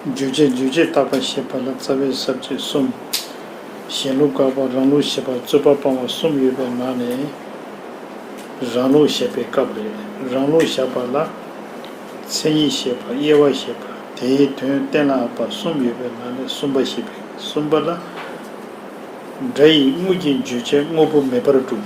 བརྗོད་བྱའི་རྗོད་བྱེད་བཏགས་པ་ཞེས་པ་ལ་རྩ་བའི་ཟབ་ཆོས་གསུམ། གཞན་ལུགས་དགག་པ་རང་ལུགས་ཞེས་པ་རྩོད་པ་སྤང་བ་གསུམ་ཡོད་པའི་ནང་ནས། རང་ལུགས་བཞག་པའི་སྐབས་རེད། རང་ལུགས་བཞག་པ་ལ། མཚན་ཉིད་ཞེས་པ་དབྱེ་བ་ཞེས་པ་དེའི་དོན་གཏན་ལ་འབབ་པ་གསུམ་ཡོད་པའི་ནང་ནས་གསུམ་པ་ཞེས་པའི་གསུམ་པ་ལ། སྒྲ་ཡིས་དངོས་ཀྱི་བརྗོད་བྱའི་དངོས་པོ་མེད་པར་སྒྲུབ།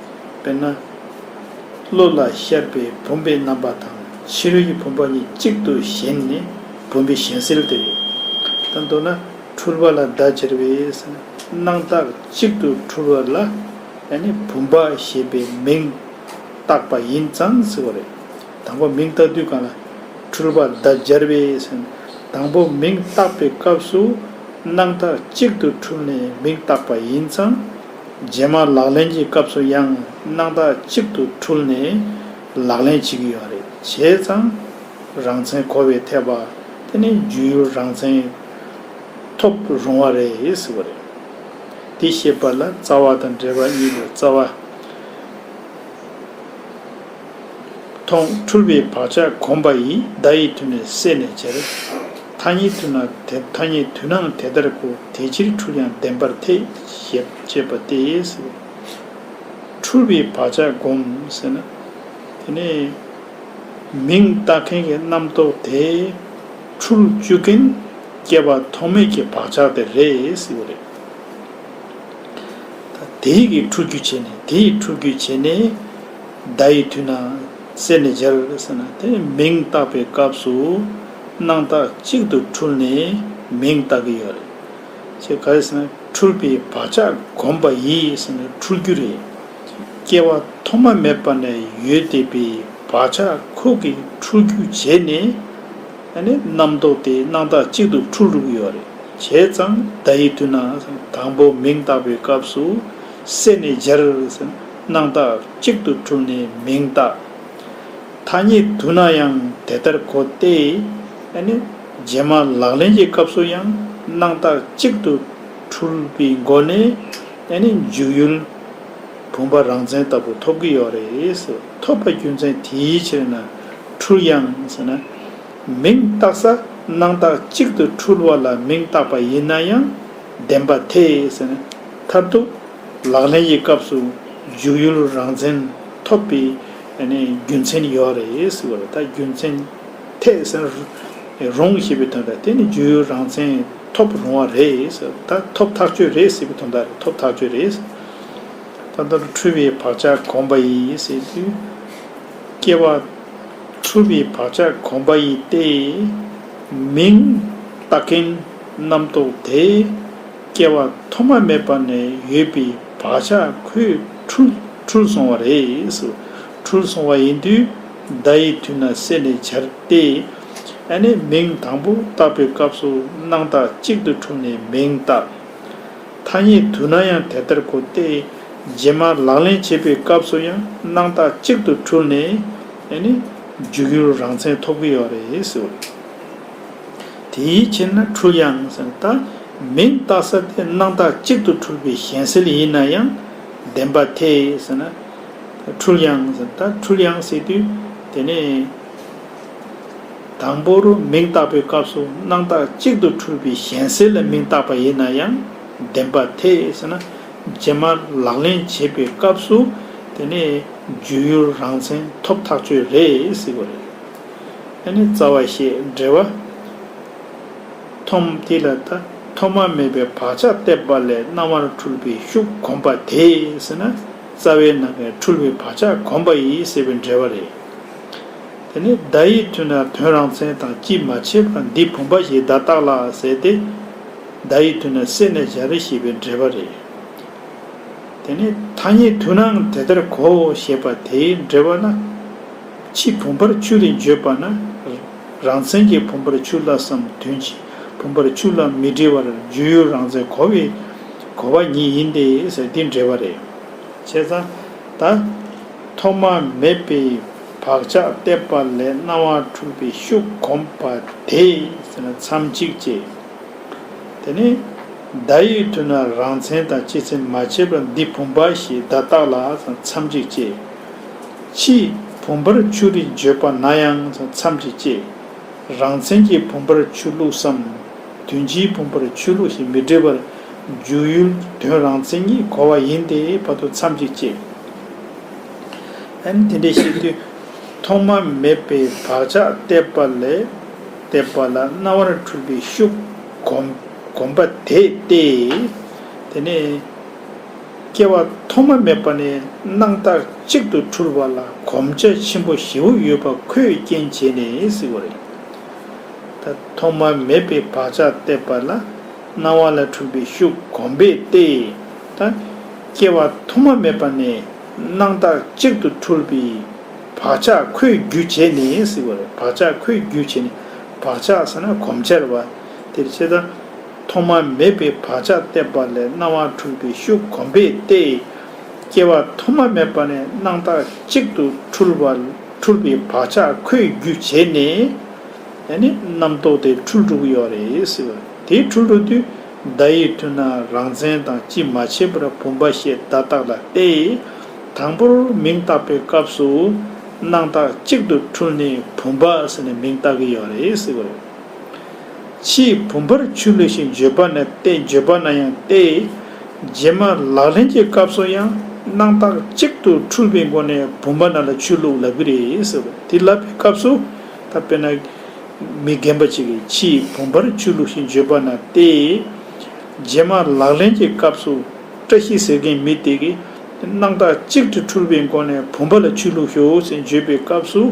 དཔེར་ན། གླུ་ལ་ཤར་པའི་བུམ་པའི་རྣམ་པ་དང་ཕྱི་རོལ་གྱི་བུམ་པ་གཉིས་གཅིག་ཏུ་བཞེངས་ནས་བུམ་པའི་བཞེངས་གསལ་དེ་རེད། དང་མདོར་ན་འཁྲུལ་པ་ལ་བརྡ་སྦྱར་བས་སྣང་བཏགས་གཅིག་ཏུ་འཁྲུལ་བ་ལ་བུམ་པ་ཞེས་པའི་མིང་བཏགས་པ་ཡིན་ཙང་ཟེར་བ་རེད། དང་པོ་མིང་བཏགས་དུས་གང་ལ་འཁྲུལ་པ་བརྡ་སྦྱར་བས་དང་པོ་མིང་བཏགས་པའི་སྐབས་སུ་སྣང་བཏགས་གཅིག་ཏུ་འཁྲུལ་ནས་མིང་བཏགས་པ་ཡིན་ཙང། རྗེས་མ་ལག་ལེན་གྱི་སྐབས་སུ་ཡང་སྣང་དག་གཅིག་ཏུ་འཁྲུལ་ནས་ལག་ལེན་བྱེད་ཀྱི་ཡོད་རེད་བྱས་ཙང། རང་མཚན་གོ་བའི་ཐེག་པ་དེ་ནི་རྒྱུ་ཡུལ་རང་མཚན་ཐོབ་རུང་བ་རེད་ཟེར་བ་རེད། འདི་བཤད་པ་ལ་རྩ་བ་དང་འབྲེལ་བ་གཉིས་ཡོད་རྩ་བ། མཐོང། འཁྲུལ་པའི་བག་ཆགས་གོམས་པ་ཡིས་བརྡ་ཡི་དུས་ནས་བསྲེས་ནས་འབྱེར། ཐ་སྙད་དུས་ན་དེ་ཐ་སྙད་དུས་ནའང་དེ་ལྟར་གོ་དེ་ཕྱིར་འཁྲུལ་ཡང་བདེན་པར་ཐལ། ཞེས་བཤད་པ་སྟེ། འཁྲུལ་པའི་བག་ཆགས་གོམས་ཟེར་ན། དེ་ནི། མིང་བཏགས་མཁན་གྱི་རྣམ་རྟོག་དེ། འཁྲུལ་བཅུག་མཁན། སྐྱེ་བ་ཐོག་མེད་ཀྱི་བག་ཆགས་དེ་རེད། ཟེར་བ་རེད། དེ་ཡི་གིས་འཁྲུལ་རྒྱུ་བྱས་ནས་དེ་ཡིས་འཁྲུལ་རྒྱུ་བྱས་ནས། བརྡ་ཡི་དུས་ན་གསེར་ནི་སྦྱར་བའི་ས་ན་དེ་མིང་བཏགས་པའི་སྐབས་སུ་སྣང་བཏགས་གཅིག་ཏུ་འཁྲུལ་ནས་མིང་བཏགས་ཀྱི་ཡོད་རེད། ཁྱེད་ག་རེ་ཟེར་ན་འཁྲུལ་པའི་བག་ཆགས་གོམས་པ་ཡིས་ཟེར་ན་འཁྲུལ་རྒྱུ་རེད། སྐྱེ་བ་ཐོག་མ་མེད་པ་ནས་ཡོད་བསྡད་པའི་བག་ཆགས་ཁོག་གིས་འཁྲུལ་རྒྱུ་བྱས་ནས་རྣམ་རྟོག་དེ་སྣང་བཏགས་གཅིག་ཏུ་འཁྲུལ་རུག་ཡོད་རེད། བྱས་ཙང་བརྡ་ཡི་དུས་ན་དང་པོ་མིང་བཏགས་པའི་སྐབས་སུ་གསེར་ནི་སྦྱར་བའི་ས་ན། སྣང་བཏགས་གཅིག་ཏུ་གྲུབ་ནས་མིང་བཏགས། ཐ་སྙད་བསྡུ་ན་ཡང་དེ་ལྟར་གོ་སྟེ། རྗེས་མ་ལག་ལེན་གྱི་སྐབས་སུ་ཡང་སྣང་བཏགས་གཅིག་ཏུ་གྲུབ་པའི་སྒོ་ནས་འཇུག་ཡུལ་བུམ་པ་རང་མཚན་ལྟ་བུ་ཐོབ་ཀྱི་ཡོད་རེད། ཐོབ་པ་རྒྱུ་མཚན་དེའི་ཕྱིར་ན་འཁྲུལ་ཡང་ཟེར་ན། མིང་བཏགས་ས་སྣང་བཏགས་གཅིག་ཏུ་འཁྲུལ་བ་ལ་མིང་བཏགས་པ་ཡིན་ན་ཡང་བདེན་པ་ཐེ་ཟེར་ན་མཐར་ཐུག། ལག་ལེན་གྱི་སྐབས་སུ་འཇུག་ཡུལ་རང་བཙན་ཐོབ་པའི་རྒྱུ་མཚན་ཡོད་རེད་ཟེར་བ་ལ་ད་རྒྱུ་མཚན་ཐད་ཟེར་རུང་ཞེས་པའི་དོན་དང་དེ་ནི་འཇུག་ཡུལ་རང་བཙན་ཐོབ་རུང་བ་རེད་ཟེར་ད་ཐོབ་ཐག་གཅོད་རེད་ཟེར་བའི་དོན་དང་རེད་ཐོབ་ཐག་གཅོད་རེད་ཟེར་ད་ལྟ་འཁྲུལ་བའི་བག་ཆགས་གོམས་པ་ཡིན་ཟེར་དུས་སྐྱེ་བ་འཁྲུལ་བའི་བག་ཆགས་གོམས་པ་ཡིན་ཏེ། མིང་བཏགས་མཁན་རྣམ་རྟོག་དེ། སྐྱེ་བ་ཐོག་མ་མེད་པ་ནས་ཡོད་པའི་བག་ཆགས་ཁོས་འཁྲུལ་སོང་བ་རེད། འཁྲུལ་སོང་བ་ཡིན་དུས་བརྡ་ཡི་དུས་ན་བསྲེས་ནས་འཆར་ཏེ། ཨ་ནེ་མིང་དང་པོ་བཏགས་པའི་སྐབས་སུ་སྣང་བཏགས་གཅིག་ཏུ་འཁྲུངས་ནས་མིང་བཏགས། ཐ་སྙད་དུས་ན་ཡང་དེ་ལྟར་གོ་སྟེ། རྗེས་མ་ལག་ལེན་བྱེད་པའི་སྐབས་སུ་ཡང་སྣང་བཏགས་གཅིག་ཏུ་འཁྲུལ་ནས། འཇུག་ཡུལ་རང་མཚན་ཐོབ་ཀྱི་ཡོད་རེད། དེའི་ཕྱིར་ན་འཁྲུལ་ཡང་སེམས་ལྟ་མིན་རྟག་ས་དེ་སྣང་རྟགས་གཅིག་ཏུ་འཁྲུལ་པའི་གཞན་སེལ་ཡིན་ན་ཡང་བདེན་པ་ཐེ་ཟེར་ན། འཁྲུལ་ཡང་སེམས་ལྟ་འཁྲུལ་ཡང་སེལ་དུས་དེ་ནི། དང་པོ་རུ་མིང་བཏགས་པའི་སྐབས་སུ་སྣང་རྟགས་གཅིག་ཏུ་འཁྲུལ་པའི་གཞན་སེལ་ལ་མིང་བཏགས་པ་ཡིན་ན་ཡང་བདེན་པ་ཐེ་ཟེར་ན། རྗེས་མ་ལག་ལེན་བྱེད་པའི་སྐབས་སུ་དེ་ནི་རྒྱུས་ཡུལ་རང་མཚན་ཐོབ་ཐག་ཆོད་རེད་ཟེར་གྱི་རེད། ནི་རྩ་བ་ཞེས་འབྲེལ་བ། ཐོམ་དེ་ལ་ད་ཐོ་མ་མེད་པའི་བག་ཆགས་བརྟས་པ་ལས་རྣ་བར་འཁྲུལ་པའི་ཤུགས་གོམས་པ་དེ་ཟེར་ན་རྩ་བའི་ནང་གི་འཁྲུལ་བའི་བག་ཆགས་གོམས་པ་ཡིན་ཟེར་བའི་འབྲེལ་བ་རེད། དེ་ནི་བརྡ་ཡིག་མཐུན་ན་དོན་རང་མཚན་དང་ཅིས་མ་ཕྱེད་པར་འདི་བུམ་པ་ཞེས་བརྡ་བཏགས་ལ་ཟེར་ཏེ། བརྡ་ཡིག་མཐུན་ན་བསྲེས་ནས་བཞག་རེ་ཞེས་པའི་འབྲེལ་བ་རེད། དེ་ནི་ཐ་སྙད་མཐུན་ནའང་དེ་ལྟར་གོ་ཞེས་པ་དེའི་འབྲེལ་བ་ན། ཕྱིའི་བུམ་པར་ཆུ་རེ་བརྗོད་པ་ན། རང་མཚན་གྱི་བུམ་པར་ཆུ་བླ་བསམ་དོན་གྱི་བུམ་པར་ཆུ་བླ་མི་འབྲི་བར་རྒྱུ་ཡུལ་རང་མཚན་གོ་བའི་གོ་བ་ཉིད་ཡིན་ཏེ་ཟེར་དེ་འགྲེལ་བ་རེད། བྱས་ཙང་ད། ཐོག་མ་མེད་པའི་བག་ཆགས་བརྟས་པ་ལས་སྣང་བ་འཁྲུལ་པའི་ཤུགས་གོམས་པ་དེ་མཚམས་གཅིག་ཅེས། དེ་ནས། བརྡ་ཡི་དུས་ན་རང་མཚན་དང་སྤྱི་མཚན་མ་ཕྱེད་པར་འདི་བུམ་པ་ཞེས་བརྡ་བཏགས་ལ་མཚམས་གཅིག་ཅེས། ཕྱིས་བུམ་པར་ཆུ་རིས་བརྗོད་པ་ན་ཡང་མཚམས་ཀྱི་བཅད། རང་མཚན་གྱི་བུམ་པར་ཆུ་བླུགས་སམ། དོན་སྤྱིའི་བུམ་པར་ཆུ་བླུགས་ཞེས་མི་འབྲི་བར། འཇུག་ཡུལ་དོན་རང་མཚན་ཉིད་གོ་བ་ཡིན་ཏེ་བར་དོ་མཚམས་ཀྱི་བཅད། དེ་འདྲའི་ཤེས་རྒྱུད་ཐོག་མ་མེད་པའི་བག་ཆགས་བརྟས་པ་ལས་བལྟས་པ་ལ་རྣ་བར་འཁྲུལ་པའི་ཤུགས་བསྒོམ་པ་དེ་སྟེ། དེ་ནས། སྐྱེ་བ་ཐོག་མ་མེད་པ་ནས་སྣང་བརྟག་གཅིག་ཏུ་འཁྲུལ་བ་ལ་གོམས་ཆ་ཆེན་པོ་བཞི་བོ་ཡོད་པ་ཁོས་རྐྱེན་བྱས་ནས་སྲིད་པ་རེད། ད་ཐོག་མ་མེད་པའི་བག་ཆགས་བརྟས་པ་ལ་སྣང་བ་ལ་འཁྲུལ་པའི་ཤུགས་གོམས་པས་ཏེ། ད་སྐྱེ་བ་ཐོག་མ་མེད་པ་ནས་སྣང་བརྟག་གཅིག་ཏུ་འཁྲུལ་པའི་བག་ཆགས་ཁོས་རྒྱུ་བྱས་ནས་སྲིད་པ་རེད་བག་ཆགས་ཁོས་རྒྱུ་བྱས་ནས་བག་ཆགས་ཟེར་ན་གོམས་ཆར་བ་དེར་བྱེད་ད། ཐོག་མ་མེད་པའི་བག་ཆགས་བརྟས་པ་ལས་སྣང་བ་འཁྲུལ་པའི་ཤུགས་གོམས་པས་ཏེ། སྐྱེ་བ་ཐོག་མ་མེད་པ་ནས་སྣང་བཏགས་གཅིག་ཏུ་འཁྲུལ་བ་འཁྲུལ་པའི་བག་ཆགས་ཁོས་རྒྱུ་བྱས་ནས། ཡང་ནི་རྣམ་རྟོག་དེ་འཁྲུལ་དྲུག་ཡོད་རེད། དེ་འཁྲུལ་དྲུག་དུས་བརྡ་ཡིས་མཐུན་ན་རང་མཚན་དང་ཅིས་མ་ཕྱེད་པར་བུམ་པ་ཞེས་བརྡ་བཏགས་ལ་ཏེ། དང་པོར་མིང་བཏགས་པའི་སྐབས་སུ། སྣང་བཏགས་གཅིག་ཏུ་འཁྲུལ་ནས་བུམ་པ་ཟེར་ནས་མིང་བཏགས་ཀྱི་ཡོད་རེད། ཕྱིའི་བུམ་པར་ཆུ་ལུ་ཞིང་བརྗོད་པ་ནས་རྟེན་བརྗོད་པ་ན་ཡང་སྟེ། རྗེས་མ་ལག་ལེན་གྱི་སྐབས་སུ་ཡང་སྣང་བཏགས་གཅིག་ཏུ་འཁྲུལ་པའི་སྒོ་ནས་བུམ་པ་རྣམས་ལ་ཆུ་བླུགས་ལབ་གི་རེད། དེ་ལབ་པའི་སྐབས་སུ་ད་དཔེར་ན། མི་རྒན་པ་གཅིག་གིས་ཕྱིའི་བུམ་པར་ཆུ་ལུ་ཞིང་བརྗོད་པ་ན་སྟེ། རྗེས་མ་ལག་ལེན་གྱི་སྐབས་སུ་བཀྲ་ཤིས་ཟེར་མཁན་མི་དེ་གིས་སྣང་བཏགས་གཅིག་ཏུ་འཁྲུལ་པའི་སྒོ་ནས་བུམ་པ་ལ་ཆུ་བླུགས་ཤོག་ཅེས་བརྗོད་པའི་སྐབས་སུ།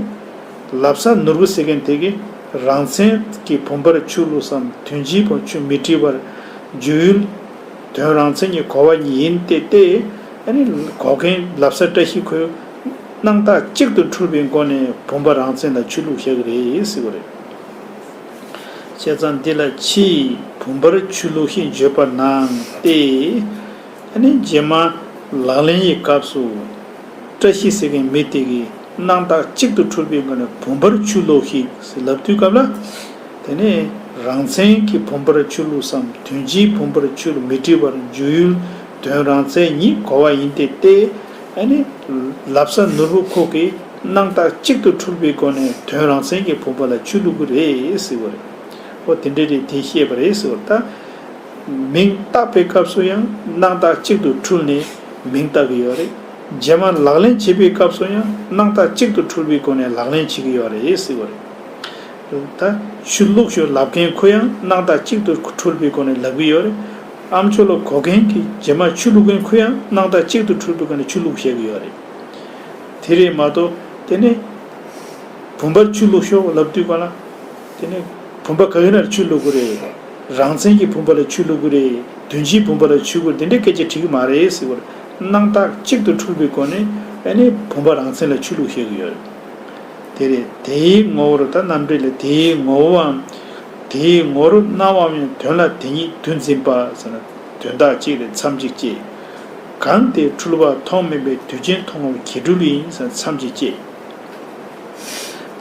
ལབ་ས་ནོར་བུ་ཟེར་མཁན་དེ་གིས་རང་མཚན་གྱི་བུམ་པར་ཆུ་བླུགས་སམ་དོན་སྤྱིའི་བར་ཆུ་མི་བྲི་བར་འཇུག་ཡུལ། དོན་རང་མཚན་གྱི་གོ་བ་ཉིད་ཡིན་ཏེ་སྟེ། གོ་མཁན་ལབ་ས་བཀྲ་ཤིས་ཁོས་སྣང་ཐག་གཅིག་ཏུ་འཁྲུལ་པའི་སྒོ་ནས་བུམ་པ་རང་མཚན་ལ་ཆུ་བླུགས་བཞག་གི་རེད་ཟེར་གི་རེད། བཤད་ཚང་འདི་ལ་ཕྱིའི་བུམ་པར་ཆུ་བླུགས་ཤིང་བརྗོད་པར་སྣང་སྟེ། ད་ནི་རྗེས་མ་ལག་ལེན་ཡི་སྐབས་སུ། བཀྲ་ཤིས་ཟེར་མཁན་མི་དེ་གིས་སྣང་བཏགས་གཅིག་ཏུ་འཁྲུལ་པའི་སྒོ་ནས་བུམ་པར་ཆུ་བླུགས་ཤིག་ཟེར་ལབ་དུས་སྐབས་ལ། དེ་ནི་རང་མཚན་གྱི་བུམ་པར་ཆུ་བླུགས་སམ་དོན་སྤྱིའི་བུམ་པར་ཆུར་མི་བྲི་བར་འཇུག་ཡུལ་དོན་རང་མཚན་ཉིད་གོ་བ་ཡིན་ཏེ་སྟེ། ཨ་ནི། ལབ་ས་ནོར་བུ་ཁོག་གིས་སྣང་བཏགས་གཅིག་ཏུ་འཁྲུལ་པའི་སྒོ་ནས་དོན་རང་མཚན་གྱི་བུམ་པ་ལ་ཆུ་བླུགས་ཀྱི་རེད་ཟེར་བ་རེད། ཨོ་དེ་འདྲ་རེད་དེ་ཤེས་པ་རེད་ཟེར་བ་ལྟར། མིང་བཏགས་པའི་སྐབས་སུ་ཡང་སྣང་བཏགས་གཅིག་ཏུ་འཁྲུལ་ནས་མིང་བཏགས་ཀྱི་ཡོད་རེད། རྗེས་མར་ལག་ལེན་བྱེད་པའི་སྐབས་སུ་ཡང་སྣང་བཏགས་གཅིག་ཏུ་འཁྲུལ་པའི་སྒོ་ནས་ལག་ལེན་བྱེད་ཀྱི་ཡོད་རེད་ཟེར་གྱི་རེད། ད། ཆུ་བླུགས་ཞོར་ལབ་མཁན་ཁོ་ཡང་སྣང་བཏགས་གཅིག་ཏུ་འཁྲུལ་པའི་སྒོ་ནས་ལབ་ཀྱི་ཡོད་རེད། ཨམ་ཆོ་ལོ་གོ་མཁན་གྱིས་རྗེས་མར་ཆུ་བླུགས་མཁན་ཁོ་ཡང་སྣང་བཏགས་གཅིག་ཏུ་འཁྲུལ་པའི་སྒོ་ནས་ཆུ་བླུགས་བཤད་ཀྱི་ཡོད་རེད། དེ་རེད་མ་གཏོགས། དེ་ནས། བུམ་པར་ཆུ་བླུགས་ཞོར་ལབ་དུས་གོ་ན། དེ་ནས་བུམ་པ་ག་གི་ནར་ཆུ་བླུག་གི་རེད། རང་བཙན་གྱི་བུམ་པ་ལ་ཆུ་བླུག་གི་རེད། དོན་སྤྱིའི་བུམ་པ་ལ་ཆུ་བླུག་དེ་འདྲའི་སྐད་ཆ་དྲིས་གི་མ་རེད་ཟེར་བར། སྣང་རྟགས་གཅིག་ཏུ་འཁྲུལ་པའི་སྒོ་ནས་ཨེ་ནས་བུམ་པ་རང་བཙན་ལ་ཆུ་བླུག་བཤད་གི་ཡོད་རེད། དེ་རེད་དེའི་ངོ་བོར་ད་རྣམ་འགྲེལ་ལས་དེའི་ངོ་བོའམ། དེའི་ངོ་རུ་སྣང་བའམ་ཡང་དོན་ལ་དེ་ཉིད་དུ་འཛིན་པ་ཟེར་ན་དོན་དག་གཅིག་རེད་མཚམས་གཅིག་གཅེས། གང་དེ་འཁྲུལ་བ་མཐོང་མིན་པའི་དུས་ཆེན་མཐོང་བར་གྱེས་འཁྲུལ་ཡིན་ཟེར་ན་མཚམས་གཅིག་གཅེས།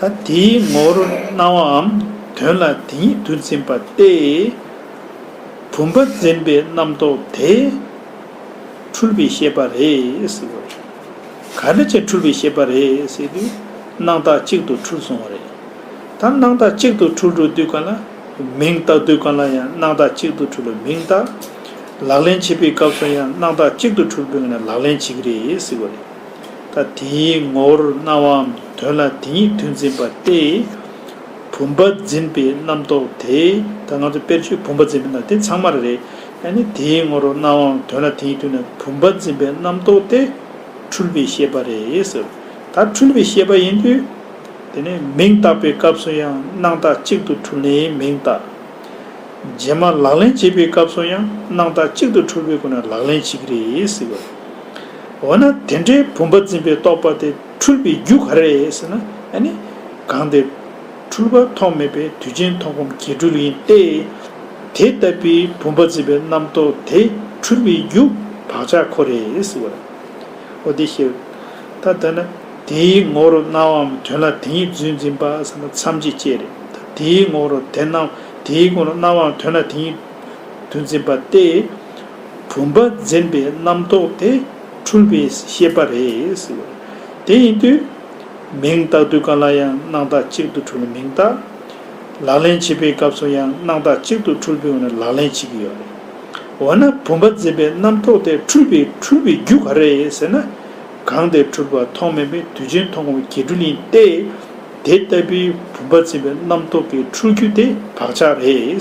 ད་དེའི་ངོ་བོར་སྣང་བའམ་དོན་ལ་དེ་ཉིད་དུ་འཛིན་པ་སྟེ། བུམ་པ་འཛིན་པའི་རྣམ་རྟོག་དེས་འཁྲུལ་པའི་ཤེས་པ་རེད། ག་རེ་བྱས་འཁྲུལ་པའི་ཤེས་པ་རེད། སྣང་བཏགས་གཅིག་ཏུ་འཁྲུལ་སོང་བ་རེད། ད་སྣང་བཏགས་གཅིག་ཏུ་འཁྲུལ་འགྲོ་དུས་གང་ལ་མིང་བཏགས་དུས་གང་ལ་ཡང་སྣང་བཏགས་གཅིག་ཏུ་འཁྲུལ་ལ་མིང་བཏགས། ལག་ལེན་བྱེད་པའི་སྐབས་སུ་ཡང་སྣང་བཏགས་གཅིག་ཏུ་འཁྲུལ་པས་ལག་ལེན་བྱེད་ཀྱི་རེད། ད་དེའི་ངོ་བོར་སྣང་བའམ་དོན་ལ་དེ་ཉིད་དུ་འཛིན་པ་སྟེ། བུམ་པ་འཛིན་པའི་རྣམ་རྟོག་དེ། ད་ང་ཚོ་དཔེར་བརྗོད་བུམ་པ་འཛིན་པའི་ནང་དེ་ཚང་མར་རེད། ཡང་ན་དེའི་ངོ་བོར་སྣང་བའམ་དོན་ལ་དེ་ཉིད་དུ་ན་བུམ་པ་འཛིན་པའི་རྣམ་རྟོག་སྟེ། འཁྲུལ་པའི་ཤེས་པ་རེད་ཟེར། ད་འཁྲུལ་པའི་ཤེས་པ་ཡིན་དུས། དེ་ནས་མིང་བཏགས་པའི་སྐབས་སུ་ཡང་སྣང་བཏགས་གཅིག་ཏུ་འཁྲུལ་ནས་མིང་བཏགས། རྗེས་མ་ལག་ལེན་བྱེད་པའི་སྐབས་སུ་ཡང་སྣང་བཏགས་གཅིག་ཏུ་འཁྲུལ་བས་ཁོ་ན་ལག་ལེན་བྱེད་ཀྱི་རེད་ཟེར། འོ་ན་དེ་འདྲའི་བུམ་པ་འཛིན་པའི་རྟོག་པ་དེ་འཁྲུལ་པའི་རྒྱུ་ག་རེ་ཟེར་ན་ནི། གང་དེ་འཁྲུལ་པ་ཐོགས་མེད་པའི་དུས་ཅན་མཐོང་སྒོམ་གྱིས་འཁྲུལ་ཡིན་ཏེ། དེ་ལྟ་བུའི་བུམ་པ་འཛིན་པའི་རྣམ་རྟོག་དེ་འཁྲུལ་བའི་རྒྱུ་བག་ཆགས་ཁོ་རེ་ཟེར་བ་དང། འོ་དེ་ཤེས་པ་ད་ལྟ་ན་དེའི་ངོ་རུ་སྣང་བའམ་དོན་ལ་དེ་ཉིད་བརྫུན་འཛིན་པ་ཟེར་ན་མཚམས་ཅི་སྐྱེ་རེ་ད་དེའི་ངོ་རུ་དེ་སྣང་དེའི་ངོ་རུ་སྣང་བའམ་དོན་ལ་དེ་ཉིད་བརྫུན་འཛིན་པ་སྟེ། བུམ་པ་འཛིན་པའི་རྣམ་རྟོག་དེ་འཁྲུལ་པའི་ཤེས་པ་རེད། དེ་ཡིན་དུས། མིང་བཏགས་དུས་གང་ལ་ཡང་སྣང་བཏགས་གཅིག་ཏུ་འཁྲུལ་བའི་མིང་བཏགས། ལག་ལེན་བྱེད་པའི་སྐབས་སུ་ཡང་སྣང་བཏགས་གཅིག་ཏུ་འཁྲུལ་པའི་འོག་ནས་ལག་ལེན་བྱེད་ཀྱི་ཡོད་རེད། འོ་ན་བུམ་པ་འཛིན་པའི་རྣམ་རྟོག་དེ་འཁྲུལ་པའི་འཁྲུལ་བའི་རྒྱུ་ག་རེད་ཟེར་ན། གང་དེ་འཁྲུལ་པ་མཐོང་མིན་པའི་དུས་ཆེན་མཐོང་བའི་འགལ་འཁྲུལ་ཡིན་ཏེ། དེ་ལྟ་བུའི་བུམ་པ་འཛིན་པའི་རྣམ་རྟོག་གི་འཁྲུལ་རྒྱུ་དེ་བག་ཆགས་རེད།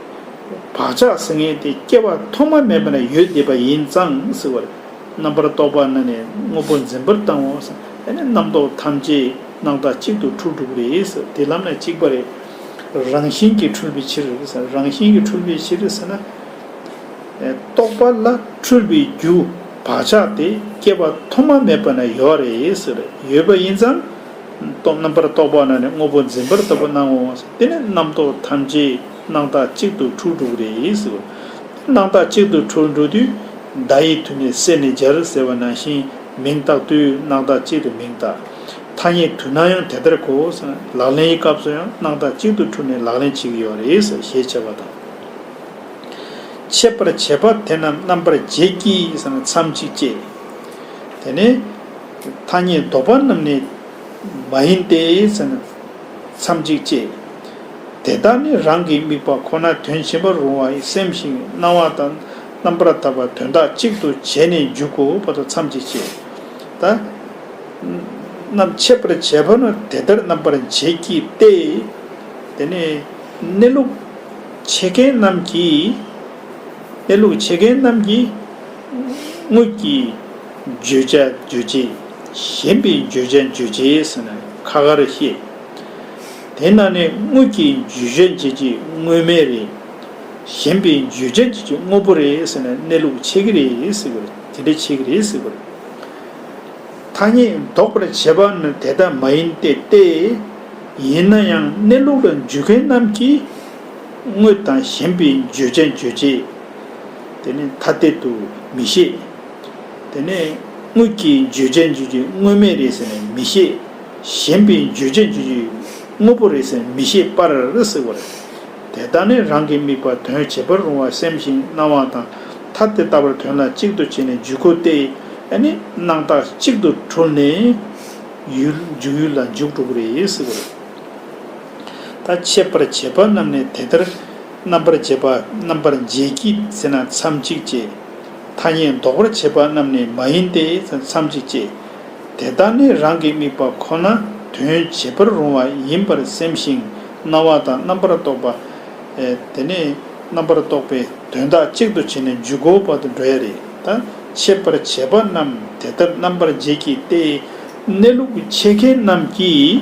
བག་ཆགས་སེམས་ངན་དེ་སྐྱེ་བ་ཐོག་མ་མེད་པ་ན་ཡོད་བསྡད་པ་ཡིན་ཙང་ཟེར་བ་རེད། རྣམ་པར་རྟོག་པ་ན་ནས་དངོས་པོ་འཛིན་པར་བཏང་བ་ཟ་ཨེ་ནས་རྣམ་རྟོག་ཐམས་ཅད་སྣང་བཏགས་གཅིག་ཏུ་འཁྲུལ་འགྲུབ་རེད་ཟ་དེ་ལམ་ནས་གཅིག་པ་རེད། རང་བཞིན་གྱིས་འཁྲུལ་པའི་ཕྱིར་རེད་ཟ་རང་བཞིན་གྱིས་འཁྲུལ་པའི་ཕྱིར་ཟེར་ན། རྟོག་པ་ལ་འཁྲུལ་པའི་རྒྱུ་བག་ཆགས་དེ་སྐྱེ་བ་ཐོག་མ་མེད་པ་ན་ཡོད་རེད་ཟེར་ཡོད་པ་ཡིན་ཙང། རྟོག་རྣམ་པར་རྟོག་པ་ན་ནི་དངོས་པོ་འཛིན་པར་ལྟ་བུ་སྣང་ངོ། དེ་ནི་རྣམ་རྟོག་ཐམས་ཅད་སྣང་བརྟགས་གཅིག་ཏུ་འཁྲུལ་འགྲོ་རེད། དེ་སྣང་བརྟགས་གཅིག་ཏུ་འཁྲུལ་འགྲོ་དུས། བརྡ་ཡི་དུས་ནས་སད་ནས་སྦྱར་ཟེར་བ་ནང་བཞིན་མིང་བཏགས་དུས་སྣང་བརྟགས་གཅིག་ཏུ་མིང་བཏགས། ཐ་སྙད་དུས་ན་ཡང་དེ་ལྟར་གོ། ལག་ལེན་གྱི་སྐབས་སུ་ཡང་སྣང་བརྟགས་གཅིག་ཏུ་འཁྲུལ་ནས་ལག་ལེན་བྱེད་ཀྱི་ཡོད་རེད་ཞེས་འཆད་པ་དང། འཆད་པར་བྱེད་པ་དེ་རྣམས་རྣམ་པར་འབྱེད་ཀྱིས་མཚམས་གཅིག་ཅེས། དེ་ནི། ཐ་སྙད་ལྡོག་པ་རྣམས་ནི་མ་ཡིན་ཏེ། མཚམས་གཅིག་ཅེས། དེ་དག་ནི་རང་གི་དམིགས་པ་ཁོ་ན་དོན་བྱེད་པར་རུང་བ་ཡི་སེམས་ཤིང་སྣང་བ་དང་རྣམ་པར་དག་པ་དོན་དག་གཅིག་ཏུ་བྱས་ནས་འཇུག་གོ་བ་དང་མཚམས་གཅིག་ཅེས། ད་རྣམས་འཆད་པར་བྱེད་པ་ནི་དེ་ལྟར་རྣམ་པར་འབྱེད་ཀྱི་སྟེ། དེ་ནི་གནས་ལུགས་འཆད་མཁན་རྣམས་ཀྱིས། གནས་ལུགས་འཆད་མཁན་རྣམས་ཀྱིས། དངོས་ཀྱི་བརྗོད་བྱ་རྗོད་བྱེད་གཞན་པའི་བརྗོད་བྱ་རྗོད་བྱེད་ཟེར་ན་ཁ་ཁར་བཤད། དེས་ན་ནི་དངོས་ཀྱི་བརྗོད་བྱ་འབྱེད་བྱེད་དངོས་མེད་རེད། གཞན་པའི་བརྗོད་བྱ་འབྱེད་བྱེད་དངོས་པོ་རེད་ཟེར་ན་གནས་ལུགས་ཆད་ཀྱི་རེད་ཟེར་བས་དེ་འདྲ་བྱེད་ཀྱི་རེད་ཟེར་བ་རེད། ཐ་སྙད་འདོགས་པར་བྱེད་པ་ནི་དེ་ལྟ་མ་ཡིན་ཏེ་སྟེ། ཡིན་ན་ཡང་གནས་ལུགས་ལ་འཇུག་མཁན་རྣམས་ཀྱིས་དངོས་དང་གཞན་པའི་བརྗོད་བྱ་རྗོད་བྱེད། དེ་ནི་ཐ་དད་དུ་མི་ཤེས། དེ་ནི་དངོས་ཀྱི་བརྗོད་བྱ་འཇུག་རྒྱུ་དངོས་མེད་རེད་ཟེར་ནས་མི་ཤེས། གཞན་པའི་བརྗོད་བྱ་འཇུག་རྒྱུ་དངོས་པོ་རེད་ཟེར་ནས་མི་ཤེས་པར་གཟིགས་པ་རེད། དེ་དག་ནི་རང་གི་དམིགས་པ་དོན་བྱེད་པར་རུང་བར་སེམས་ཤིང་སྣང་བ་དང་ཐ་དད་ལྟ་བར་དོན་ལ་གཅིག་ཏུ་བྱས་ནས་འཇུག་གོ་སྟེ། ཨེ་ནི་སྣང་བཏགས་གཅིག་ཏུ་དྲུབ་ནས། ཡུལ་འཇུག་ཡུལ་ལ་འཇུག་གྲུབ་པོ་རེད་གཟིགས་པ་རེད། ད་ཆད་པར་བྱེད་པ་རྣམས་ནི་དེ་ལྟར། རྣམ་པར་འབྱེད་པ་རྣམ་པར་འབྱེད་ཀྱི་ཚེ་ན་མཚམས་གཅིག་ཅེས། ཐ་སྙད་འདོགས་པར་བྱེད་པ་རྣམས་ནི་མ་ཡིན་ཏེ་མཚམས་གཅིག་ཅེས། དེ་ལྟར་ནི་རང་གི་དམིགས་པ་ཁོ་ན་དོན་བྱེད་པར་རུང་བ་ཡིན་པར་སེམས་ཤིང་སྣང་བ་དང་རྣམ་པར་རྟོག་པ། དེ་ནི་རྣམ་པར་རྟོག་པའི་དོན་དག་གཅིག་ཏུ་བྱས་ནས་འཇུག་གོ་བར་དུ་འགྲོ་ཡ་རེ་དང་འཆད་པར་བྱེད་པ་རྣམས་དེ་ལྟར་རྣམ་པར་འབྱེད་ཀྱི་སྟེ། གནས་ལུགས་འཆད་མཁན་རྣམས་ཀྱིས།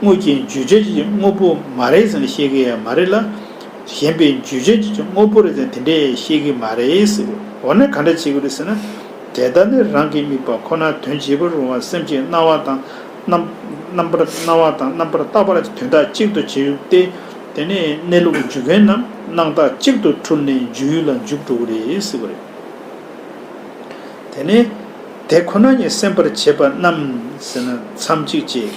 དངོས་ཀྱི་འཇུ་བྱེད་ཀྱི་དངོས་པོ་མ་རེད་ཟེར་ནས་བཤད་གི་མ་རེད་ལ། གཞན་པའི་འཇུ་བྱེད་ཀྱི་དངོས་པོ་རེད་ཟེར་ནས་དེ་འདྲས་བཤད་གི་མ་རེད། འོ་ན་ག་འདྲ་བྱེད་གི་རེད་ཟེར་ན། དེ་ལྟར་ནི་རང་གི་དམིགས་པ་ཁོ་ན་དོན་བྱེད་པར་རུང་བ་སེམས་ཀྱི་སྣང་བ་དང་རྣམ་པར་སྣང་བ་དང་རྣམ་པར་བརྟགས་པ་ལ་དོན་དག་གཅིག་ཏུ་བྱེད་ཡུལ་ཏེ། དེ་ནས་གནས་ལུགས་འཇུག་མཁན་རྣམས་སྣང་བརྟགས་གཅིག་ཏུ་འཁྲུལ་ནས་འཇུག་ཡུལ་ལ་འཇུག་འགྲོ་གི་རེད། དེ་ནས། དེ་ཁོ་ན་ཉིད་སེམས་པར་བྱེད་པ་རྣམས་ཟིན་ན་མཚམས་གཅིག་ཅེས།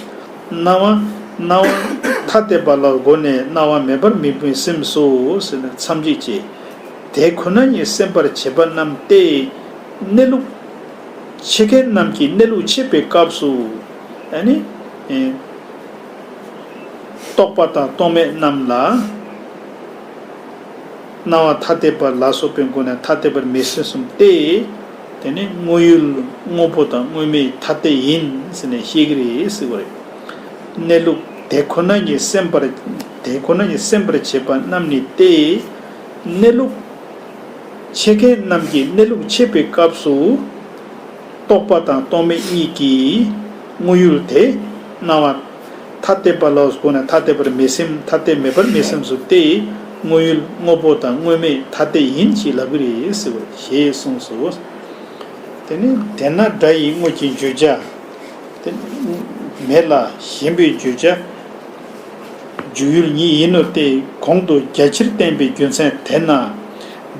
སྣང་བ། སྣང་བ། ཐ་དད་པ་ལ་སྒོ་ནས་སྣང་བ་མེད་པར་མི་བུན་སེམས་སོ་ཟིན་ན་མཚམས་གཅིག་ཅེས། དེ་ཁོ་ན་ཉིད་སེམས་པར་བྱེད་པ་རྣམས་ཏེ། གནས་ལུགས། འཆད་མཁན་རྣམས་ཀྱིས་གནས་ལུགས་འཆད་པའི་སྐབས་སུ། ནི། རྟོག་པ་དང་རྟོག་མེད་རྣམས་ལ། སྣང་བ་ཐ་དད་པ་ལ་སོགས་པའི་སྒོ་ནས་ཐ་དད་པར་མི་སེམས་སོམས་ཏེ། དེ་ནི་དངོས་ཡོད་དངོས་པོ་དང་དངོས་མེད་ཐ་དད་ཡིན་ཟེར་ནས་བཤད་ཀྱི་རེད་ཟེར་བ་རེད། གནས་ལུགས་དེ་ཁོ་ན་ཉིད་སེམས་པར་དེ་ཁོ་ན་ཉིད་སེམས་པར་བྱེད་པ་རྣམས་ནི་སྟེ། གནས་ལུགས་འཆད་མཁན་རྣམས་ཀྱིས་གནས་ལུགས་འཆད་པའི་སྐབས་སུ། རྟོགས་པ་དང་རྟོགས་མེད་གཉིས་ཀྱིས་དངོས་ཡོད་དེ་སྣང་བ། ཐ་དད་པ་ལ་གོ་ནས་ཐ་དད་པར་མི་སེམས་ཐ་དད་མེད་པར་མི་སེམས་སོ་སྟེ། དངོས་ཡུལ་དངོས་པོ་དང་དངོས་མེད་ཐ་དད་ཡིན་གྱི་ལབ་གི་རེད། ཞེས་གསུངས་སོ། དེ་ནི་དེས་ན་སྒྲ་ཡི་དངོས་ཀྱི་བརྗོད་བྱ། དེ་མེད་ལ་གཞན་པའི་བརྗོད་བྱ། འཇུག་ཡུལ་ཉིད་ཡིན་ནོ་སྟེ་གོང་དུ་རྒྱ་ཆེར་བསྟན་པའི་རྒྱུ་མཚན་དེས་ན།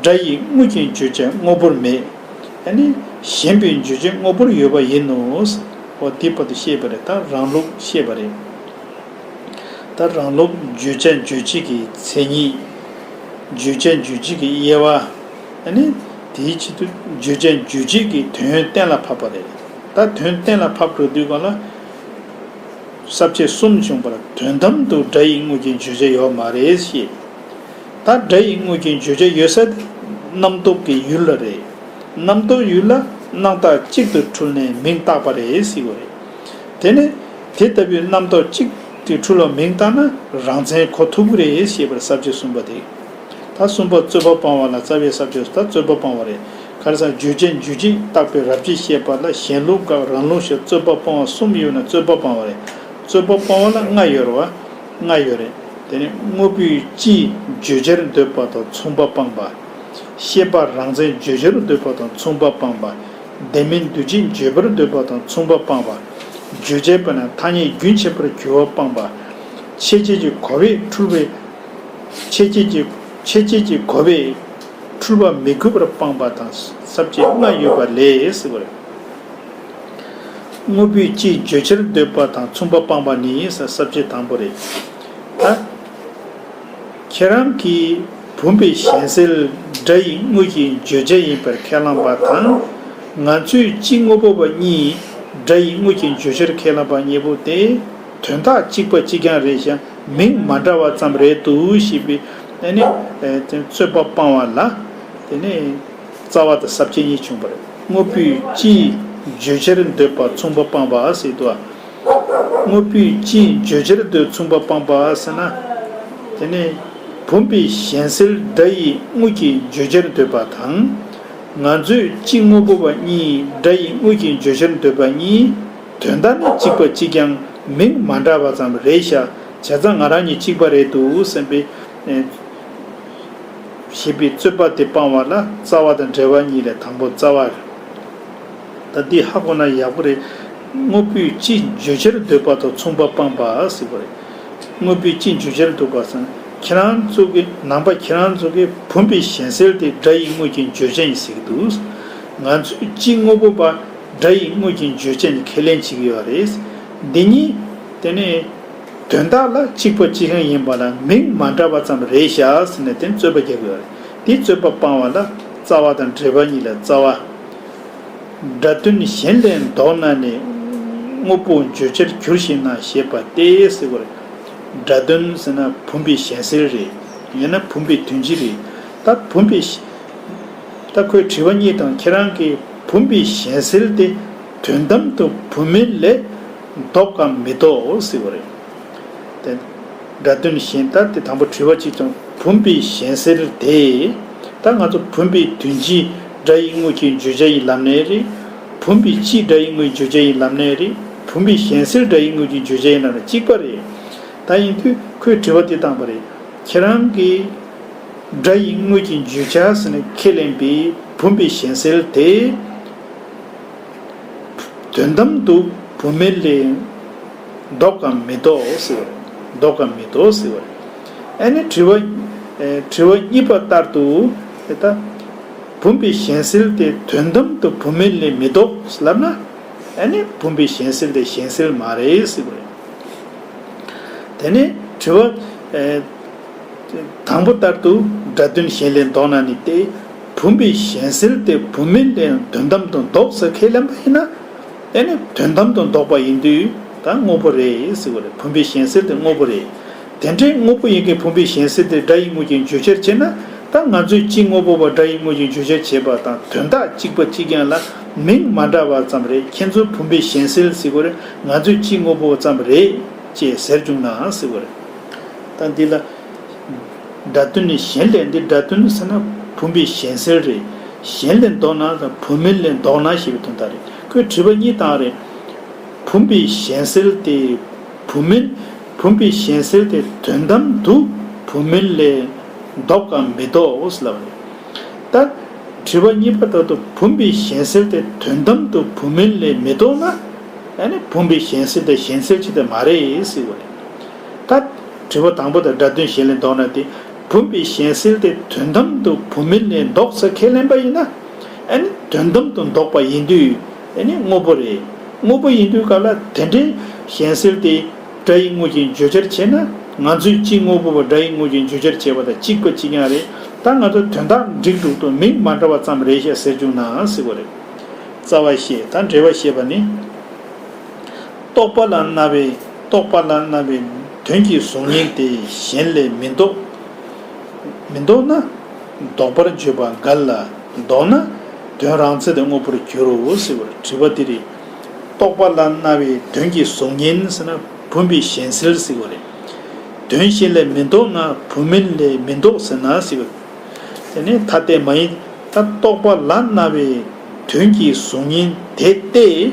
སྒྲ་ཡི་དངོས་ཀྱི་བརྗོད་བྱ་དངོས་པོར་མེད། ཡང་ནི་གཞན་པའི་འཇུ་བྱེད་དངོས་པོར་ཡོད་པ་ཡིན་ནོ། འོ་དེ་བར་དུ་ཤེས་པ་རེད་ད་རང་ལུགས་ཤེས་པ་རེད། ད་རང་ལུགས་འཇུ་བྱ་འཇུ་བྱེད་ཀྱི་མཚན་ཉིད། འཇུ་བྱ་འཇུ་བྱེད་ཀྱི་དབྱེ་བ། ཡང་ནི་དེའི་ཆེད་དུ་འཇུ་བྱ་འཇུ་བྱེད་ཀྱི་དོན་གཏན་ལ་ཕབ་པ་རེད། ད་དོན་གཏན་ལ་ཕབ་འགྲོ་དུས་གང་ལ། ཟབ་ཆོས་གསུམ་བྱུང་བར་དོན་དམ་དུ་སྒྲ་ཡི་དངོས་ཀྱི་འཇུ་བྱ་ཡོད་མ་རེད་ཤེས། ད་སྒྲ་ཡི་དངོས་ཀྱི་བརྗོད་བྱ་ཡོད་ས་དེ་རྣམ་རྟོག་གི་ཡུལ་ལ་རེད། རྣམ་རྟོག་ཡུལ་ལ་སྣང་བཏགས་གཅིག་ཏུ་འཁྲུལ་ནས་མིང་བཏགས་པ་རེད་སྲིད་བ་རེད། དེ་ནས་དེ་ལྟ་བུའི་རྣམ་རྟོག་གཅིག་དེ་འཁྲུལ་བ་མིང་བཏགས་ན་རང་མཚན་གོ་ཐུབ་ཀི་རེད་ཞེས་པར་ཟབ་ཆོས་གསུམ་པ་དེ། ད་གསུམ་པ་རྩོད་པ་སྤང་བ་ལ་རྩ་བའི་ཟབ་ཆོས་སུ་ད་རྩོད་པ་སྤང་བ་རེད་ག་རེ་ཟ་བརྗོད་བྱ་འཇུ་བྱེད་བཏགས་པའི་རབ་བྱེད་བཤད་པ་ལ་གཞན་ལུགས་དགག་རང་ལུགས་བཤད་རྩོད་པ་སྤོང་བ་གསུམ་ཡོད་ན་རྩོད་པ་སྤང་བ་རེད་རྩོད་པ་སྤོང་བ་ལ་ལྔ་ཡོད་ར་བ། ལྔ་ཡོད་རེད། དེ་ནི་དངོས་པོའི་སྤྱིའི་བརྗོད་བྱར་འདོད་པ་དང་མཚུངས་པ་སྤངས་པ། ཤེས་པ་རང་མཚན་བརྗོད་བྱར་འདོད་པ་དང་མཚུངས་པ་སྤངས་པ། བདེན་མིན་འདུ་བྱེད་བརྗོད་པར་འདོད་པ་དང་མཚུངས་པ་སྤངས་པ། བརྗོད་བྱའི་བོད་ན་ཐ་སྙད་རྒྱུན་ཆད་པར་གྱུར་བ་སྤངས་པ། ཆེ་བསྐྱེད་ཀྱི་གོ་བས་འཁྲུལ་བའི། ཆེ་བསྐྱེད་ཀྱི་ཆེ་བསྐྱེད་ཀྱི་གོ་བས། འཁྲུལ་བ་མི་དགོས་པར་སྤངས་པ་དང་ཟབ་ཅིང་ལྔ་ཡོད་པ་ལས། དངོས་པོའི་སྤྱིའི་བརྗོད་བྱར་འདོད་པ་དང་མཚུངས་པ་སྤངས་པ་ནི་ཡིན་ས་ཟབ་ཆོས་དང་པོ་རེད། ད་ཁྱེད་རང་གིས་བུམ་པའི་གཞན་སེལ་སྒྲ་ཡི་དངོས་ཀྱི་བརྗོད་བྱ་ཡིན་པར་ཁས་བླངས་པ་དང། ང་ཚོས་སྤྱི་དངོས་པོ་པ་གཉིས་སྒྲ་ཡི་དངོས་ཀྱི་བརྗོད་བྱར་ཁས་བླངས་པ་གཉིས་པོ་དེ་དོན་དག་གཅིག་པ་གཅིག་རྐྱང་རེད་ཞག་མིང་མ་འདྲ་བ་ཙམ་རེད་འདུག་ཞེས་པའི་རྩོད་པ་སྤངས་བ་ལ། རྩ་བ་དང་ཟབ་ཆེན་གཉིས་བྱུང་བར་དངོས་པོའི་སྤྱིའི་བརྗོད་བྱར་འདོད་པ་མཚུངས་པ་སྤངས་པ་སྲིད་དོ། དངོས་པོའི་སྤྱིའི་བརྗོད་བྱར་འདོད་མཚུངས་པ་སྤངས་པ་སྲིད་ན། དེ་ནི། བུམ་པའི་གཞན་སེལ་སྒྲ་ཡི་དངོས་ཀྱི་བརྗོད་བྱར་འདོད་པ་དང། ང་ཚོས་སྤྱི་དངོས་པོ་པ་གཉིས་སྒྲ་ཡི་དངོས་ཀྱི་བརྗོད་བྱར་འདོད་པ་གཉིས། དོན་དག་ནི་གཅིག་པ་གཅིག་ཀྱང་མིང་མ་འདྲ་བ་ཙམ་རེད་ཤག་བྱས་ཙང་ང་རང་ཉིད་གཅིག་པ་རེད་འདུག་སེམས་པའི། ཞེས་པའི་རྩོད་པ་དེ་སྤང་བ་ལ་རྩ་བ་དང་འབྲེལ་བ་གཉིས་ལས་དང་པོ་རྩ་བ་རེད། ད་འདི་ཧ་གོ་ན་ཡག་པོ་རེད། དངོས་པོའི་སྤྱི་བརྗོད་བྱར་འདོད་པ་དང་མཚུངས་པ་སྤངས་པ་སིག་པོ་རེད། དངོས་པོའི་སྤྱི་བརྗོད་བྱར་འདོད་པ་སང་ཁྱེད་རང་གཙུག་གི་ནང་པ་ཁྱེད་རང་གཙུག་གི་བུམ་པའི་གཞན་སེལ་དེ་སྒྲ་ཡི་དངོས་ཀྱི་བརྗོད་བྱ་ཡིན་ཟེར་གྱི་འདུག་ང་ཚོས་སྤྱི་དངོས་པོ་པ་སྒྲ་ཡི་དངོས་ཀྱི་བརྗོད་བྱ་ནི་ཁས་ལེན་བྱེད་ཀྱི་ཡོད་རེད། འདི་གཉིས། དེ་ནས། དོན་དག་ལ་གཅིག་པ་ཅི་ཞིག་ཡིན་པ་ལ་མིང་མ་འདྲ་བ་ཙམ་རེ་བཞག་ཟེར་ནས་དེར་རྩོད་པ་རྒྱག་གི་ཡོད་རེད་དེ་རྩོད་པ་སྤང་བ་ལ་རྩ་བ་དང་འབྲེལ་པ་གཉིས་ལ་རྩ་བ་འདྲ་དོན་གཞན་ལས་ལྡོག་ན་ནི་དངོས་པོ་བརྗོད་བྱར་གྱུར་ཞིག་ན་ཞེས་པ་སྟེ་སེལ་བར་འདྲ་དོན་ཟེར་ན་བུམ་པའི་གཞན་སེལ་རེད་ཡིན་ན་བུམ་པའི་དོན་སྤྱི་རེད་ད་བུམ་པའི་ད་ཁོས་དྲི་བ་གཉིས་དང་ཁྱེད་རང་གིས་བུམ་པའི་གཞན་སེལ་ཏེ་དོན་དམ་དུ་བུམ་མིན་ལས། ལྡོག་གམ་མི་ལྡོག་འོ་སྲིད་བ་རེད། དེ། འདྲ་དོན་གཞན་ལྟར་དེ་དང་པོ་དྲི་བ་གཅིག་ཙམ་བུམ་པའི་གཞན་སེལ་དེ། ད་ང་ཚོ་བུམ་པའི་དོན་སྤྱི་སྒྲ་ཡི་དངོས་ཀྱི་བརྗོད་བྱ་ཡི་ལམ་ནས་རེད། བུམ་པའི་སྤྱི་སྒྲ་ཡི་དངོས་བརྗོད་བྱ་ཡི་ལམ་ནས་རེད། བུམ་པའི་གཞན་སེལ་སྒྲ་ཡི་དངོས་ཀྱི་བརྗོད་བྱ་ཡི་ལམ་ནས་གཅིག་པ་རེད། ད་ཡིན་དུས་ཁོས་དྲི་བ་འདི་བཏང་བ་རེད། ཁྱེད་རང་གིས། སྒྲ་ཡི་དངོས་ཀྱི་བརྗོད་བྱ་ཟེར་ནས་ཁས་ལེན་པའི་བུམ་པའི་གཞན་སེལ་དེ། དོན་དམ་དུ་བུ་མེད་ལས། བཟློག་གམ་མི་བཟློག་ཟེར་བ། བཟློག་གམ་མི་བཟློག་ཟེར་བ། ཨ་ནི་དྲི་བ། དྲི་བ་གཉིས་པ་ལྟར་དུ། དེ་ལྟ་བུམ་པའི་གཞན་སེལ་དེ་དོན་དམ་དུ་བུ་མེད་ལས་མི་བཟློག་ལབ་ན། ཨ་ནི་བུམ་པའི་གཞན་སེལ་དེ་གཞན་སེལ་མ་རེད་ཟེར་བ་རེད། དེ་ནས་དྲི་བ། དང་པོ་ལྟར་དུ་སྒྲ་དོན་གཞན་ལས་བཟློག་ན་ནི་སྟེ། བུམ་པའི་གཞན་སེལ་ཏེ་བུམ་མིན་དེ་ཡང་དོན་དམ་དུ་འདོགས་ཟེར་ཁས་ལེན་པ་ཡིན་ན། དེ་ནི་དོན་དམ་དུ་འདོགས་པ་ཡིན་དུས་ད་དངོས་པོ་རེད་ཟེར་བ་རེད་བུམ་པའི་གཞན་སེལ་དེ་དངོས་པོ་རེད། དེ་འདྲའི་དངོས་པོ་ཡིན་གྱི་བུམ་པའི་གཞན་སེལ་དེ་སྒྲ་ཡིག་དངོས་ཀྱི་བརྗོད་བྱར་བྱས་ན་ད་ང་ཚོས་སྤྱིའི་དངོས་པོ་བ་སྒྲ་ཡིག་དངོས་ཀྱི་བརྗོད་བྱར་བྱས་པ་དང་དོན་དག་གཅིག་པ་གཅིག་རྐྱང་ལ་མིང་མ་འདྲ་བ་ཙམ་རེད་ཁྱེད་ཚོས་བུམ་པའི་གཞན་སེལ་ཟེར་བ་རེད་ང་ཚོས་སྤྱིའི་དངོས་པོ་བ་ཙམ་རེད་ཅེས་ཟེར་བྱུང་ནའང་ཟེར་བ་རེད། ད་འདི་ལ། སྒྲ་དོན་ནི་གཞན་ལས་འདི་སྒྲ་དོན་ནི་ཟེར་ན་བུམ་པའི་གཞན་སེལ་རེད། གཞན་ལས་མདོག་ནག་དང་བུམ་མེད་ལས་མདོག་ནག་ཞེས་པའི་དོན་དག་རེད། ཁོས་དྲིས་པ་གཉིས་དང་རེད། བུམ་པའི་གཞན་སེལ་དེ་བུམ་མེད། བུམ་པའི་གཞན་སེལ་དེ་དོན་དམ་དུ་བུམ་མེད་ལས་མདོག་གམ་མི་མདོག་འོ་ཟེར་ལབ་པ་རེད། ད། དྲིས་པ་གཉིས་པ་དག་ཏུ་བུམ་པའི་གཞན་སེལ་དེ་དོན་དམ་དུ་བུམ་མེད་ལས་མི་མདོག་ན། ཡང་ན་བུམ་པའི་གཞན་སེལ་དེ་གཞན་སེལ་ཅིག་དེ་མ་རེད་ཟེར་བ་རེད། ད། དྲིལ་བུ་དང་པོ་དང་སྒྲ་དོན་གཞན་ལས་བཟློག་ན་དེ་བུམ་པའི་གཞན་སེལ་ཏེ་དོན་དམ་དུ་བུམ་མིན་ནས་བཟློག་ས་ཁས་ལེན་པ་ཡིན་ན། ཨ་ནི་དོན་དམ་དུ་བཟློག་པ་ཡིན་དུས་ཨ་ནི་དངོས་པོ་རེད། དངོས་པོ་ཡིན་དུས་སྐབས་ལ་དེ་འདྲའི་གཞན་སེལ་ཏེ་སྒྲ་ཡི་དངོས་ཀྱི་བརྗོད་བྱར་བྱས་ན་ང་ཚོས་གཅིག་དངོས་པོ་བ་སྒྲ་ཡི་དངོས་ཀྱི་བརྗོད་བྱར་བྱས་པ་དང་གཅིག་པ་གཅིག་ཡང་རེད་ད་ང་ཚོ་དོན་དག་འགྲིག་འདུག་དོན་མིང་མ་འདྲ་བ་ཙམ་རེད་ཤག་ཟེར་བཅུག་ནའང་སྲིད་པ་རེད། རྩ་བ་ཤེས་དང་འབྲེལ་བ་ཤེས་པ་ནི། རྟོགས་པ་ལ་རྣ་བའི་རྟོགས་པ་ལ་རྣ་བའི་དོན་གྱི་གཟུགས་བརྙན་དེ་གཞན་ལས་མི་ལྡོག། མི་ལྡོག་ན། ལྡོག་པར་བརྗོད་པ་འགལ་ལ། ལྡོག་ན། དོན་རང་ཚད་དུ་དངོས་པོར་འགྱུར་རོ་ཟེར་བར་དྲི་བ་འདི་རེད། རྟོགས་པ་ལ་རྣ་བའི་དོན་གྱི་གཟུགས་བརྙན་ཟེར་ན་བུམ་པའི་གཞན་སེལ་ཟེར་བ་རེད། དོན་གཞན་ལས་མི་ལྡོག་ན་བུམ་མིན་ལས་མི་ལྡོག་ཟེར་ན་ཟེར་བ་རེད། དེ་ནི་ཐ་དད་མ་ཡིན། ད་རྟོགས་པ་ལ་རྣ་བའི་དོན་གྱི་གཟུགས་བརྙན་དེ་སྟེ།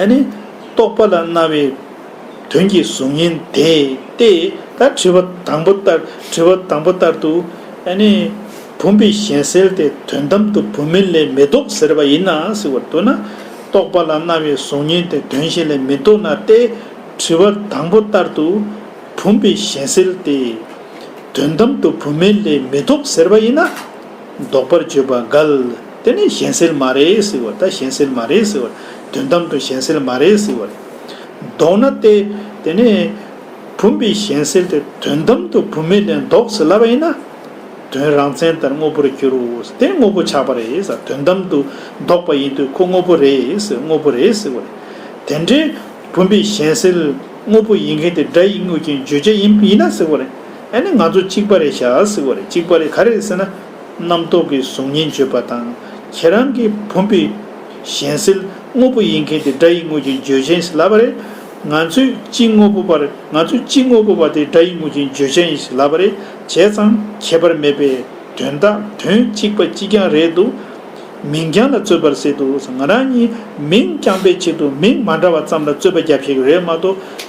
ཨཱ་ནི། རྟོགས་པ་ལ་རྣ་བའི་དོན་གྱི་གཟུགས་བརྙན་དེ་སྟེ། ད་དྲི་བ་དང་པོ་ལྟར་དྲི་བ་དང་པོ་ལྟར་དུ། ཨཱ་ནི། བུམ་པའི་གཞན་སེལ་དེ་དོན་དམ་དུ་བུམ་མིན་ལས་མི་ལྡོག་ཟེར་བ་ཡིན་ན་ཟེར་བར་འདོད་ན། རྟོགས་པ་ལ་རྣ་བའི་གཟུགས་བརྙན་དེ་དོན་གཞན་ལས་མི་ལྡོག་ན་སྟེ། དྲི་བ་དང་པོ་ལྟར་དུ། བུམ་པའི་གཞན་སེལ་དེ། དོན་དམ་དུ་བུམ་མིན་ལས་མི་ལྡོག་ཟེར་བ་ཡིན་ན། བཟློག་པར་བརྗོད་པ་འགལ། དེ་ནི་གཞན་སེལ་མ་རེད་ཟེར་བ་ད་གཞན་སེལ་མ་རེད་ཟེར་བ། དོན་དམ་དུ་གཞན་སེལ་མ་རེད་ཟེར་བ་རེད། བཟློག་ན་སྟེ། དེ་ནི། བུམ་པའི་གཞན་སེལ་དེ་དོན་དམ་དུ་བུམ་མེད་ལས་བཟློག་ཟེར་སླ་བ་ཡིན་ན། དོན་རང་མཚན་ལྟར་དངོས་པོར་འགྱུར། དེ་དངོས་པོ་ཆགས་པ་རེད་ཟེར་བ་དོན་དམ་དུ་བཟློག་པ་ཡིན་དུས་ཁོ་དངོས་པོ་རེད་ཟེར་དངོས་པོ་རེད་ཟེར་བ་རེད། དེ་འདྲའི། བུམ་པའི་གཞན་སེལ། དངོས་པོ་ཡིན་མཁན་དེ་སྒྲ་ཡིས་བསྔོས་ཀྱིན་བརྗོད་བྱ་ཡིན་ཡིན་ན་ཟེར་བ་རེད། ཨ་ནི་ང་ཚོ་གཅིག་པ་རེད་ཤག་ཟིག་བ་རེད་གཅིག་པ་རེད་ག་རེད་ཟེར་ན། རྣམ་རྟོག་གི་གཟུགས་བརྙན་བརྗོད་པ་དང་ཁྱེད་རང་གི་བུམ་པའི་གཞན་སེལ་དངོས་པོ་ཡིན་མཁན་དེ་སྒྲ་ཡི་དངོས་ཀྱི་བརྗོད་བྱ་ཡིན་ཟེར་ལབ་པ་རེད། ང་ཚོས་གཅིག་དངོས་པོ་པར་ང་ཚོས་གཅིག་དངོས་པོ་པ་དེ་སྒྲ་ཡི་དངོས་ཀྱི་བརྗོད་བྱ་ཡིན་ཟེར་ལབ་པ་རེད་བྱས་ཙང་ཁྱད་པར་མེད་པས་དོན་དག་དོན་གཅིག་པ་གཅིག་རྐྱང་རེད་འདུག་མིང་རྐྱང་ལ་རྩོད་པར་ཟེར་འདུག་ང་རང་གཉིས་མིང་རྐྱང་པའི་ཆེད་དུ་མིང་མ་འདྲ་བ་ཙམ་ལ་རྩོད་པ་རྒྱབ་ཤེས་ཀྱི་རེད་མ་གཏོགས།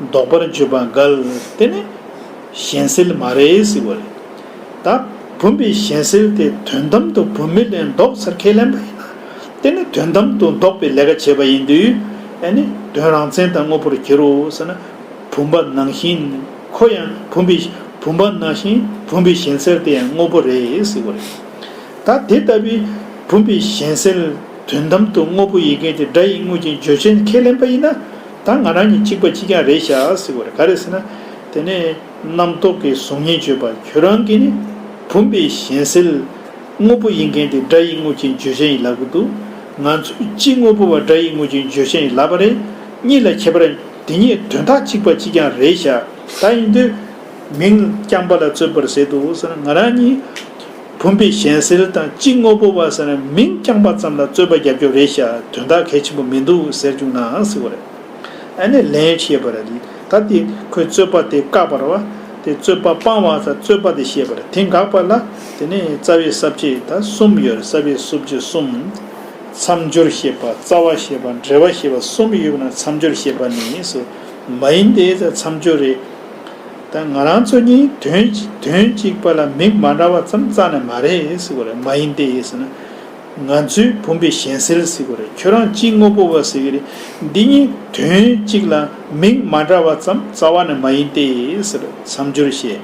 བཟློག་པར་བརྗོད་པ་འགལ། དེ་ནི་གཞན་སེལ་མ་རེད་ཟེར་བ་རེད། ད་བུམ་པའི་གཞན་སེལ་དེ་དོན་དམ་དུ་བུམ་མེད་ལས་བཟློག་ཟེར་ཁས་ལེན་པ་ཡིན་ན། དེ་ནི་དོན་དམ་དུ་བཟློག་པའི་ལས་ཀ་བྱས་པ་ཡིན་དུས། ཨེ་ནི་དོན་རང་མཚན་དང་དངོས་པོར་འགྱུར་རོ་ཟེར་ན། བུམ་པ་ནང་བཞིན་ཁོ་ཡང་བུམ་པའི་བུམ་པ་ནང་བཞིན་བུམ་པའི་གཞན་སེལ་དེ་ཡང་དངོས་པོ་རེད་ཟེར་བ་རེད། ད་དེ་ལྟ་བུའི་བུམ་པའི་གཞན་སེལ་དོན་དམ་དུ་དངོས་པོ་ཡིན་མཁན་གྱི་སྒྲ་ཡི་དངོས་ཀྱི་བརྗོད་བྱའི་ཁས་ལེན་པ་ཡིན་ན། ད་ང་རང་གཉིས་གཅིག་པ་གཅིག་རྐྱང་རེད་ཤག་ཟེར་བར་ག་རེ་ཟེར་ན། དེ་ནས་རྣམ་རྟོག་གི་གཟུགས་བརྙན་བརྗོད་པ་ཁྱོད་རང་གིས་ནི་བུམ་པའི་གཞན་སེལ། དངོས་པོ་ཡིན་མཁན་དེ་སྒྲ་ཡིག་དངོས་ཅན་བརྗོད་བྱ་ཡིན་ལབ་གི་འདུག་ང་ཚོས་གཅིག་དངོས་པོ་བ་སྒྲ་ཡིག་དངོས་ཅན་བརྗོད་བྱ་ཡིན་ལབ་པ་རེད། གཉིས་ལ་ཁྱད་པར་དེ་གཉིས་དོན་དག་གཅིག་པ་གཅིག་རྐྱང་རེད་ཤག་ད་ཡིན་དུས། མིང་རྐྱང་པ་ལ་རྩོད་པར་ཟད་དོ་ཟེར་ན་ང་རང་གཉིས། བུམ་པའི་གཞན་སེལ་དང་གཅིག་དངོས་པོ་བ་ཟེར་ན་མིང་རྐྱང་པ་ཙམ་ལ་རྩོད་པ་རྒྱབ་སྐྱོར་རེད་ཤག་དོན་དག་གལ་ཆེན་པོ་མི་འདུག་ཟེར་བཅུག་ནའང་སྲིད་པ་རེད། ཨ་ནེ་ལན་ཞེས་པ་རེད་ད་དེ་ཁོས་རྩོད་པ་དེ་བཀག་པར་བ་དེ་རྩོད་པ་སྤང་བ་ད་རྩོད་པ་དེ་ཤེས་པ་རེད་དེ་འགག་པ་ལ་དེ་ནས་རྩ་བའི་གསབ་བྱེད་ད་གསུམ་ཡོད་རེད་གསབ་བྱེད་གསུབ་བྱེད་གསུམ། མཚམས་སྦྱོར་ཞེས་པ་རྩ་བ་ཞེས་པ་འབྲེལ་བ་ཞེས་པ་གསུམ་ཡོད་པ་ན་མཚམས་སྦྱོར་ཞེས་པ་ནི་སོ་མ་ཡིན་ཏེ་མཚམས་སྦྱོར་རེད། ད་ང་རང་ཚོ་གཉིས་དོན་དོན་གཅིག་པ་ལ་མིག་མ་འདྲ་བ་ཙམ་རྩ་ནས་མ་རེད་ཟེར་གོ་རེད་མ་ཡིན་ཏེ་ཟེར་ན། ང་ཚོའི་བུམ་པའི་གཞན་སེལ་ཟེར་གོ་རེད་ཁྱོད་རང་ཅི་དངོས་པོ་བ་ཟེར་གི་རེད་འདི་གཉིས་དོན་གཅིག་ལ་མིག་མ་འདྲ་བ་ཙམ་རྩ་བ་ནས་མ་ཡིན་ཏེ་ཟེར་མཚམས་སྦྱོར་བཤད་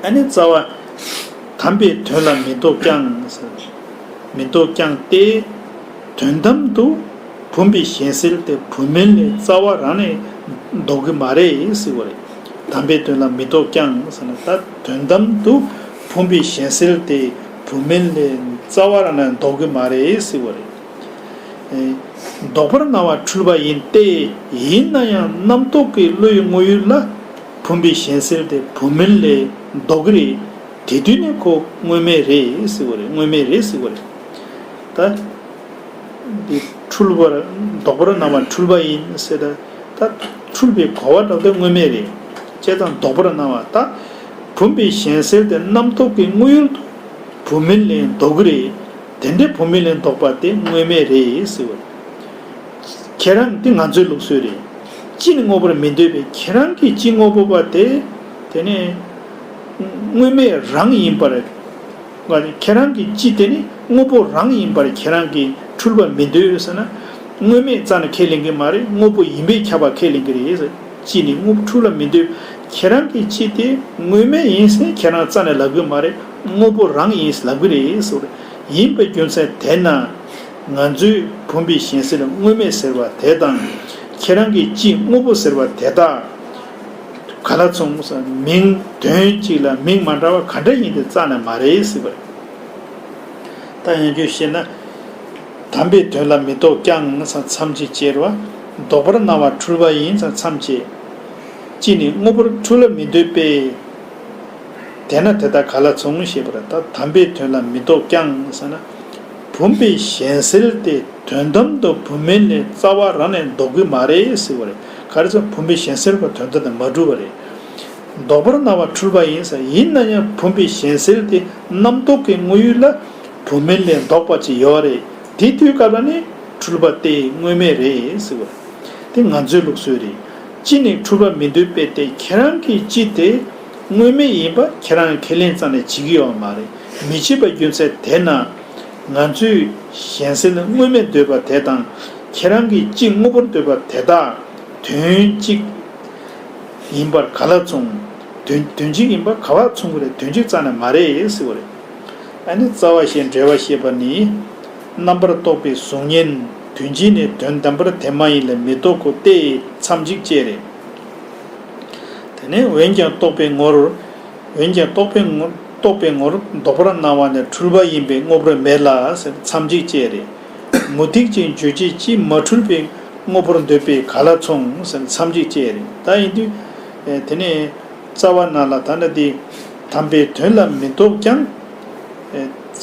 ཨ་ནི་རྩ་བ། དམ་པའི་དོན་ལ་མི་འདོགས་ཀྱང་ཟེར་མི་འདོགས་ཀྱང་སྟེ། དོན་དམ་དུ། བུམ་པའི་གཞན་སེལ་དེ་བུམ་མིན་ལས་རྩ་བ་རང་ནས་ལྡོག་གི་མ་རེད་ཟེར་བ་རེད། དམ་པའི་དོན་ལ་མི་ལྡོག་ཀྱང་ཟེར་ན་ད་དོན་དམ་དུ་བུམ་པའི་གཞན་སེལ་དེ་བུམ་མིན་ལས་རྩ་བ་རང་ནས་ལྡོག་གི་མ་རེད་ཟེར་བ་རེད། ལྡོག་པར་སྣང་བ་འཁྲུལ་པ་ཡིན་ཏེ་ཡིན་ན་ཡང་རྣམ་རྟོག་གི་བློའི་དངོས་ཡུལ་ལ་བུམ་པའི་གཞན་སེལ་དེ་བུམ་མིན་ལས་ལྡོག་གི་རེད། དེ་དུས་ནས་ཁོ་དངོས་མེད་རེད་ཟེར་བ་རེད་དངོས་མེད་རེད་ཟེར་བ་རེད། ད། འདི་འཁྲུལ་པར་ལྡོག་པར་སྣང་བ་འཁྲུལ་པ་ཡིན་སྲིད་དེ། ད་འཁྲུལ་པའི་གོ་བ་དག་ཏུ་དངོས་མེད་རེད་ཅེས་དང་ལྡོག་པར་སྣང་བ་ད་བུམ་པའི་གཞན་སེལ་དེ་རྣམ་རྟོག་གི་དངོས་ཡུལ་དུ་བུམ་མིན་ལས་ལྡོག་གི་རེད། དེ་འདྲའི་བུམ་མིན་ལས་ལྡོག་པ་དེ་དངོས་མེད་རེད་ཟེར་བ། ཁྱེད་རང་འདི་ང་ཚོའི་ལུགས་སྲོལ་རེད། སྤྱི་ནི་དངོས་པོར་མི་འདོད་པའི་ཁྱེད་རང་གིས་སྤྱི་དངོས་པོ་པ་དེ་དེ་ནི་དངོས་མེད་རང་ཡིན་པར། ང་ནི་ཁྱེད་རང་གི་ཅི་དེ་ནི་དངོས་པོ་རང་ཡིན་པར་ཁྱེད་རང་གིས་འཁྲུལ་པ་མི་འདོད་ཟེར་ན། དངོས་མེད་རྩ་ནི་ཁས་ལེན་གི་མ་རེད་དངོས་པོ་ཡིན་པས་ཁྱབ་པ་ཁས་ལེན་གི་རེད། ཅི་ནི་དངོས་པོ་འཁྲུལ་ལ་མི་འདོད། ཁྱེད་རང་གི་ཅི་དེ་དངོས་མེད་ཡིན་ཟིན་ཁྱེད་རང་རྩ་ནི་ལབ་གི་མ་རེད་དངོས་པོ་རང་ཡིན་ལབ་གི་རེད་ཟེར། ཡིན་པའི་རྒྱུ་མཚན་དེ་ན། ང་ཚོས་བུམ་པའི་གཞན་སེལ་དངོས་མེད་ཟེར་བ་དེ་དང། ཁྱེད་རང་གི་ཅི་དངོས་པོ་ཟེར་བ་དེ་དག། ག་ལ་མཚུངས་སམ། མིང་དོན་གཅིག་ལ་མིང་མ་འདྲ་བ་ག་འདྲ་ཡིན་ཏེ་རྩ་ནས་མ་རེག་སྲིད་པ་རེད། ད་ཡང་རྒྱུད་བཤད་ན། དམ་པའི་དོན་ལ་མི་རྟོག་ཀྱང་ས་མཚམས་ཅི་ཅེར་བ། ལྡོག་པར་སྣང་བ་འཁྲུལ་པ་ཡིན་ས་མཚམས་ཅི། གཅིག་ནི་དངོས་པོར་འཁྲུལ་ལ་མི་འདོད་པས། དེས་ན་དེ་དག་ག་ལ་མཚུངས་ཞེས་པར་ད་དམ་པའི་དོན་ལ་མི་རྟོག་ཀྱང་ས་ན། བུམ་པའི་གཞན་སེལ་ཏེ་དོན་དམ་དུ་བུམ་མིན་ལས་རྩ་བ་རང་ནས་ལྡོག་གི་མ་རེག་སྲིད་པ་རེད། ག་རེ་ཟེར་བུམ་པའི་གཞན་སེལ་བ་དོན་དུ་ནི་མ་གྲུབ་པ་རེད། ལྡོག་པར་སྣང་བ་འཁྲུལ་པ་ཡིན་ཟེར་ཡིན་ན་ཡང་བུམ་པའི་གཞན་སེལ་དེ་རྣམ་རྟོག་གི་དངོས་ཡུལ་ལ་བུམ་མིན་ལས་ལྡོག་པ་ཅིག་ཡོད་རེད་དེ་དུས་སྐབས་ལ་ནི་འཁྲུལ་པ་སྟེ་དངོས་མེད་རེད་ཟེར་བ་རེད། དེ་ང་ཚོའི་ལུགས་སྲོལ་རེད། སྤྱི་ནས་འཁྲུལ་པ་མི་འདོད་དཔེ་སྟེ་ཁྱེད་རང་གིས་སྤྱི་དེ་དངོས་མེད་ཡིན་པ་ཁྱེད་རང་ཁས་ལེན་ཙམ་ལས་བྱེད་ཀྱི་ཡོད་པ་མ་རེད་མི་བྱེད་པ་རྒྱུ་མཚན་དེས་ན། ང་ཚོས་གཞན་སེམས་དངོས་མེད་འདོད་པ་དེ་དང་ཁྱེད་རང་གིས་གཅིག་དངོས་པོར་འདོད་པ་དེ་དག་དོན་གཅིག་ཡིན་པར་ག་ལ་མཚུངས། དོན་གཅིག་ཡིན་པར་ག་བར་མཚུངས་ཀྱི་རེད་དོན་གཅིག་རྩ་ནས་མ་རེད་ཟེར་བ་རེད། ཨ་ནི་རྩ་བ་ཞེས་འབྲེལ་བ་ཤེས་པ་ནི། རྣམ་པར་རྟོག་པའི་གཟུགས་བརྙན་དོན་གཅིག་ནི་དོན་དམ་པར་དེ་མ་ཡིན་ལ་མི་རྟོག་གོ་སྟེ་མཚམས་གཅིག་བཅད་རེད། དེ་ནས་འོན་ཀྱང་རྟོག་པའི་ངོར། འོན་ཀྱང་རྟོག་པའི་ངོར་རྟོག་པའི་ངོར་ལྡོག་པར་སྣང་བ་ནི་འཁྲུལ་པ་ཡིན་པས་དངོས་པོར་མེད་ལ་ཟེར་མཚམས་གཅིག་ཅེས་རེད། མུ་སྟེགས་ཅན་རྗོད་བྱེད་ཀྱིས་མ་འཁྲུལ་པའི་དངོས་པོར་འདོད་པས་ག་ལ་མཚུངས་ཟེར་མཚམས་གཅིག་ཅེས་རེད། ད་ཡིན་དུས། དེ་ནས་རྩ་བ་ན་ལ་དྭགས་ན་དེ་དམ་པའི་དོན་ལ་མི་རྟོག་ཀྱང།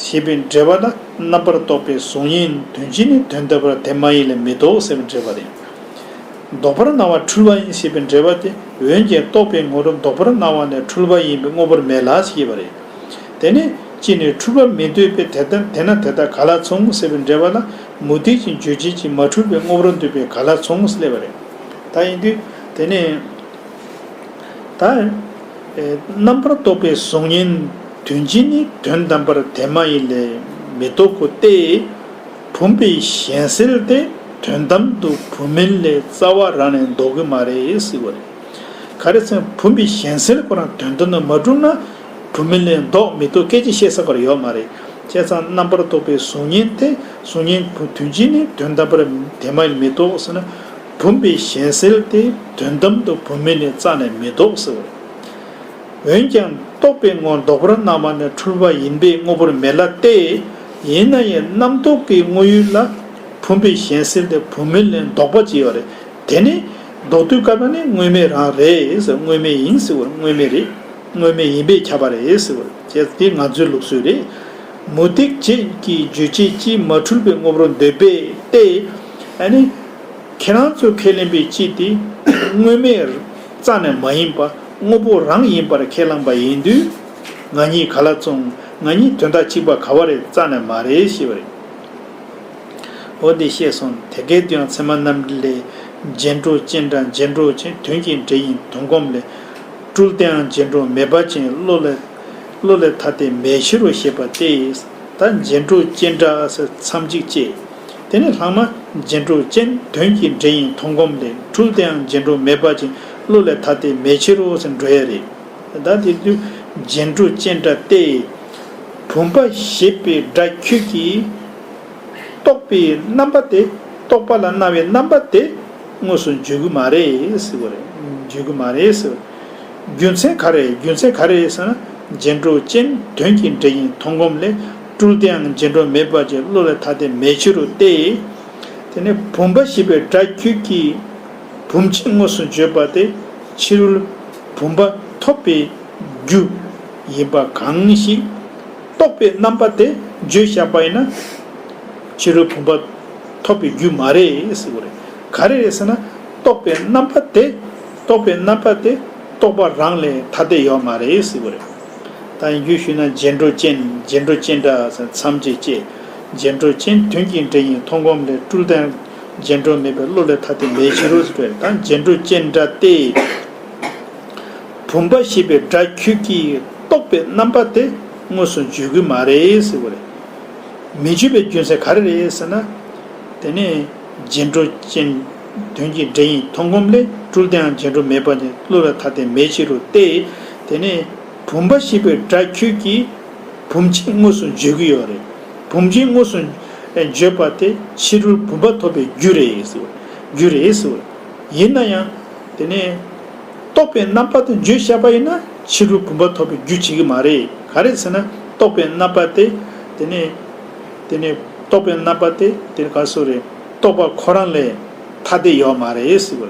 ཞེས་པའི་འགྲེལ་བ་ལ་རྣམ་པར་རྟོག་པའི་གཟུགས་བརྙན་དོན་སྤྱི་ནི་དོན་དམ་པར་དེ་མ་ཡིན་ལ་མི་རྟོག་ཟེར་བ་འགྲེལ་པ་རེད། ལྡོག་པར་སྣང་བ་འཁྲུལ་པ་ཡིན་ཞེས་པའི་འགྲེལ་བ་དེ་འོན་ཀྱང་རྟོགས་པའི་ངོ་བོ་ལྡོག་པར་སྣང་བ་ནི་འཁྲུལ་པ་ཡིན་པའི་དངོས་པོར་མེད་ལགས་ཞེས་པ་རེད། དེ་ནི་གཅིག་ནས་འཁྲུལ་པ་མི་འདོད་པས་དེ་ལྟར་དེས་ན་དེ་དག་ག་ལ་མཚུངས་ངོ་ཟེར་བའི་འགྲེལ་བ་ལ་མུ་སྟེགས་ཀྱི་རྗོད་བྱེད་ཀྱིས་མ་འཁྲུལ་པའི་དངོས་པོར་འདོད་པས་ག་ལ་མཚུངས་ངོ་སླེབས་པ་རེད། ད་ཡིན་དུས་དེ་ནི། ད། རྣམ་པར་རྟོག་པའི་གཟུགས་བརྙན་དོན་སྤྱི་ནི་དོན་དམ་པར་དེ་མ་ཡིན་ལས་མི་རྟོག་གོ་སྟེ། བུམ་པའི་གཞན་སེལ་དེ་དོན་དམ་དུ་བུམ་མིན་ལས་རྩ་བ་རང་ནས་འདོགས་གི་མ་རེད་ཟེར་བ་རེད། ག་རེ་ཚེ་བུམ་པའི་གཞན་སེལ་ཁོ་རང་དོན་དུ་ནི་མ་གྲུབ་ན་བུམ་མིན་ལས་འདོགས་མི་ཐུབ་སྐད་ཅིག་བཤད་ས་པར་ཡོད་མ་རེད། བྱས་ཙང་རྣམ་པར་རྟོག་པའི་གཟུགས་བརྙན་དེ་གཟུགས་བརྙན་དོན་སྤྱི་ནི་དོན་དམ་པར་དེ་མ་ཡིན་མི་རྟོགས་ཟེར་ན། བུམ་པའི་གཞན་སེལ་དེ་དོན་དམ་དུ་བུམ་མིན་ལས་རྩ་ནས་མི་འདོགས་ཟེར་བ་རེད། འོན་ཀྱང་རྟོག་པའི་ངོར་འདོགས་པར་སྣང་བ་ནི་འཁྲུལ་པ་ཡིན་པས་དངོས་པོར་མེད་ལ་སྟེ། ཡིན་ན་ཡང་རྣམ་རྟོག་གི་དངོས་ཡུལ་ལ་བུམ་པའི་གཞན་སེལ་དེ་བུམ་མིན་ལས་ལྡོག་པ་བྱས་པ་རེད། དེ་ནི། ལྡོག་དུས་བཀག་པ་ནི་དངོས་མེད་རང་རེད་ཟེར་དངོས་མེད་ཡིན་ཟེར་བར་དངོས་མེད་རེད། དངོས་མེད་ཡིན་པས་ཁྱབ་པ་རེད་ཟེར་བར་ཁྱད་དེ་ང་ཚོའི་ལུགས་སྲོལ་རེད། མུ་སྟེགས་བྱེད་ཀྱི་རྗོད་བྱེད་སྤྱིའི་མ་འཁྲུལ་པའི་དངོས་པོར་འདོད་པས་ཏེ། ཨ་ནི། ཁྱེད་རང་ཚོས་ཁས་ལེན་པའི་སྤྱི་དེ། དངོས་མེད། རྩ་ནས་མ་ཡིན་པ་དངོས་པོ་རང་ཡིན་པར་ཁས་བླངས་པ་ཡིན་དུས། ང་གཉིས་ག་ལ་བཙོང། ང་གཉིས་དོན་དག་གཅིག་པ་ག་བ་རེད་རྩ་ནས་མ་རེད་ཤེས་པ་རེད། འོ་འདི་ཤེས་སོང་དེ་སྐད་དུ་ཡང་ཚད་མ་རྣམ་འགྲེལ་ལས། རྗེས་འགྲོ་སྤྱན་དྲངས་རྗེས་འགྲོ་སྤྱན་དོན་གྱི་འགྲེལ་ཡིན་དོན་སྒོམ་ལས། སྤྲུལ་བསྟན་འང་རྗེས་འགྲོ་མེད་པ་ཅན་བློ་ལས། བློ་ལས་ཐ་དད་མེད་གཞི་རུ་ཤེས་པ་སྟེ། ད་རྗེས་འགྲོ་སྤྱན་དྲངས་ཟེར་མཚམས་གཅིག་ཅེས། དེ་ནི་ལྷག་མ། རྗེས་འགྲོ་སྤྱན་དོན་གྱི་འགྲེལ་ཡིན་མཐོང་སྒོམ་ལས་སྤྲུལ་བསྟན་འང་རྗེས་འགྲོ་མེད་པ་ཅན་བློ་ལས་ཐ་དད་མེད་ཕྱིར་རོ་ཟེར་འགྲོ་ཡས་རེད། བདག་དེ་དུས་རྗེ་འབྲུ་ཅན་སྒྲ་སྟེ། བུམ་པ་ཞེས་པའི་སྒྲ་ཁྱོད་ཀྱིས། རྟོགས་པའི་རྣམ་པ་དེ་རྟོགས་པ་ལ་སྣང་བའི་རྣམ་པ་དེ་དངོས་སུ་བརྗོད་གི་མ་རེད། བརྗོད་གི་མ་རེད། རྒྱུ་མཚན་ག་རེད་རྒྱུ་མཚན་ག་རེད་ཟེར་ན། རྗེ་འབྲུ་ཅན་དོན་གྱི་འགྲེལ་ཡིན་མཐོང་སྒོམ་ལས་སྤྲུལ་དེའང་རྗེ་འགྲོ་མེད་པ་ཅིག་བློ་ལས་ཐར་ཏེ་མེད་ཕྱིར་རོ་སྟེ། དེ་ནས་བུམ་པ་ཞེས་པའི་སྒྲ་ཁྱོད་ཀྱིས། བུམ་ཅན་དངོས་སུ་བརྗོད་པ་དེ་ཕྱི་རོལ་བུམ་པ་ཐོབ་པའི་རྒྱུ་ཡིན་པ་གང་ཞིག་རྟོགས་པའི་རྣམ་པ་དེ་བརྗོད་བཞག་པ་ཡིན་ན། ཕྱི་རོལ་བུམ་པ་ཐོབ་པའི་རྒྱུ་མ་རེད་ཟེར་བ་རེད། ག་རེ་རེད་ཟེར་ན། རྟོགས་པའི་རྣམ་པ་དེ་རྟོགས་པའི་རྣམ་པ་དེ་རྟོགས་པ་རང་ལས་ཐ་དད་ཡོད་མ་རེད་ཟེར་བ་རེད། ད་ཡིན་རྒྱུ་ཞུས་ན་རྗེས་འགྲོ་ཅན་རྗེས་འགྲོ་ཅན་འདྲ་ཟེར་མཚམས་བཅད་བཅད་རྗེས་འགྲོ་ཅན་དོན་གྱི་འབྲས་ཡིན་མཐོང་སྒོམ་ལས་སྤྲུལ་བསྟན། རྗེས་འགྲོ་མེད་པའི་བློ་ལས་ཐ་དད་མེད་ཕྱི་རོལ་དོན་དང་རྗེས་འགྲོ་སྤྱན་འདྲ་སྟེ། བུམ་པ་ཞེས་པའི་སྒྲ་ཁྱོད་ཀྱིས་རྟོགས་པའི་རྣམ་པ་དེ་དངོས་སུ་བརྗོད་གི་མ་རེད་ཟེར་བ་རེད། མི་བརྗོད་པའི་རྒྱུ་མཚན་ག་རེ་རེད་ཟེར་ན། དེ་ནི་རྗེས་འགྲོ་སྤྱན་དོན་གྱི་སྒྲ་ཡིན་མཐོང་སྒོམ་ལས་གྲུབ་དེའང་རྗེས་འགྲོ་མེད་པ་ནི་བློ་ལས་ཐ་དད་མེད་ཕྱི་རོལ་ཏེ། དེ་ནི་བུམ་པ་ཞེས་པའི་སྒྲ་ཁྱོད་ཀྱིས། བུམ་ཅན་དངོས་སུ་བརྗོད་ཀྱི་ཡོད་རེད། བུམ་ཅན་དངོས་སུ་བརྗོད་པ་དེ་ཕྱི་རོལ་བུམ་པ་ཐོབ་པའི་རྒྱུ་རེད། རྒྱུ་རེད། ཡིན་ན་ཡང། དེ་ནས། རྟོགས་པའི་རྣམ་པ་དེ་བརྗོད་བྱ་བ་ཡིན་ན་ཕྱི་རོལ་བུམ་པ་ཐོབ་པའི་རྒྱུ་བྱེད་ཀྱི་མ་རེད། ག་རེད་ཟེར་ན། རྟོགས་པའི་རྣམ་པ་དེ། དེ་ནས། དེ་ནས། རྟོགས་པའི་རྣམ་པ་དེ། དེ་ག་སོགས་རེད། རྟོགས་པ་ཁོ་རང་ལས། ཐ་དད་ཡོད་མ་རེད།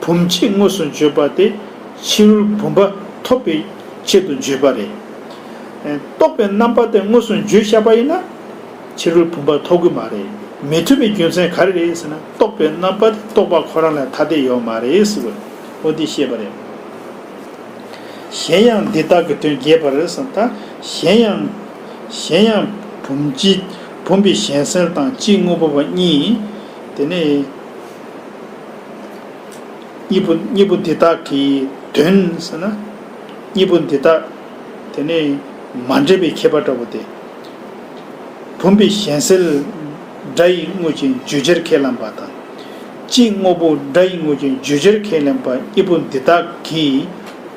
བུམ་ཆེན་དངོས་སུ་བརྗོད་པ་དེ་ཕྱི་རོལ་བུམ་པ་ཐོབ་པའི་ཆེད་དུ་བརྗོད་པ་རེད། རྟོགས་པའི་རྣམ་པ་དེ་དངོས་སུ་བརྗོད་བྱ་བ་ཡིན་ན། ཕྱི་རོལ་བུམ་པ་ཐོབ་གི་མ་རེད། མི་ཐུབ་པའི་རྒྱུ་མཚན་ག་རེ་རེད་ཟེར་ན་རྟོགས་པའི་རྣམ་པ་དེ་རྟོགས་པ་ཁོ་རང་ལས་ཐ་དད་ཡོད་མ་རེད་ཟེར་བའི་དབུ་འདི་བཤད་པ་རེད། གཞན་ཡང་འདི་དག་གི་དོན་རྒྱས་པར་རེ་ཟུང་དང་གཞན་ཡང། གཞན་ཡང། བུམ་གྱི་བུམ་པའི་གཞན་སེལ་དང་གཅིག་དངོས་པོ་བ་གཉིས། དེ་ནས། གཉིས་པོ་གཉིས་པོ་འདི་དག་གི་དོན་ཟེར་ན། གཉིས་པོ་འདི་དག་དེ་ནི་མ་འདྲེས་པའི་ཁྱད་པར་འདྲ་བོ་སྟེ། བུམ་པའི་གཞན་སེལ་སྒྲ་ཡི་དངོས་ཀྱི་བརྗོད་བྱར་ཁས་ལེན་པ་དང། སྤྱིའི་དངོས་པོ་སྒྲ་ཡི་དངོས་ཀྱི་བརྗོད་བྱར་ཁས་ལེན་པ་གཉིས་པོ་འདི་དག་གི་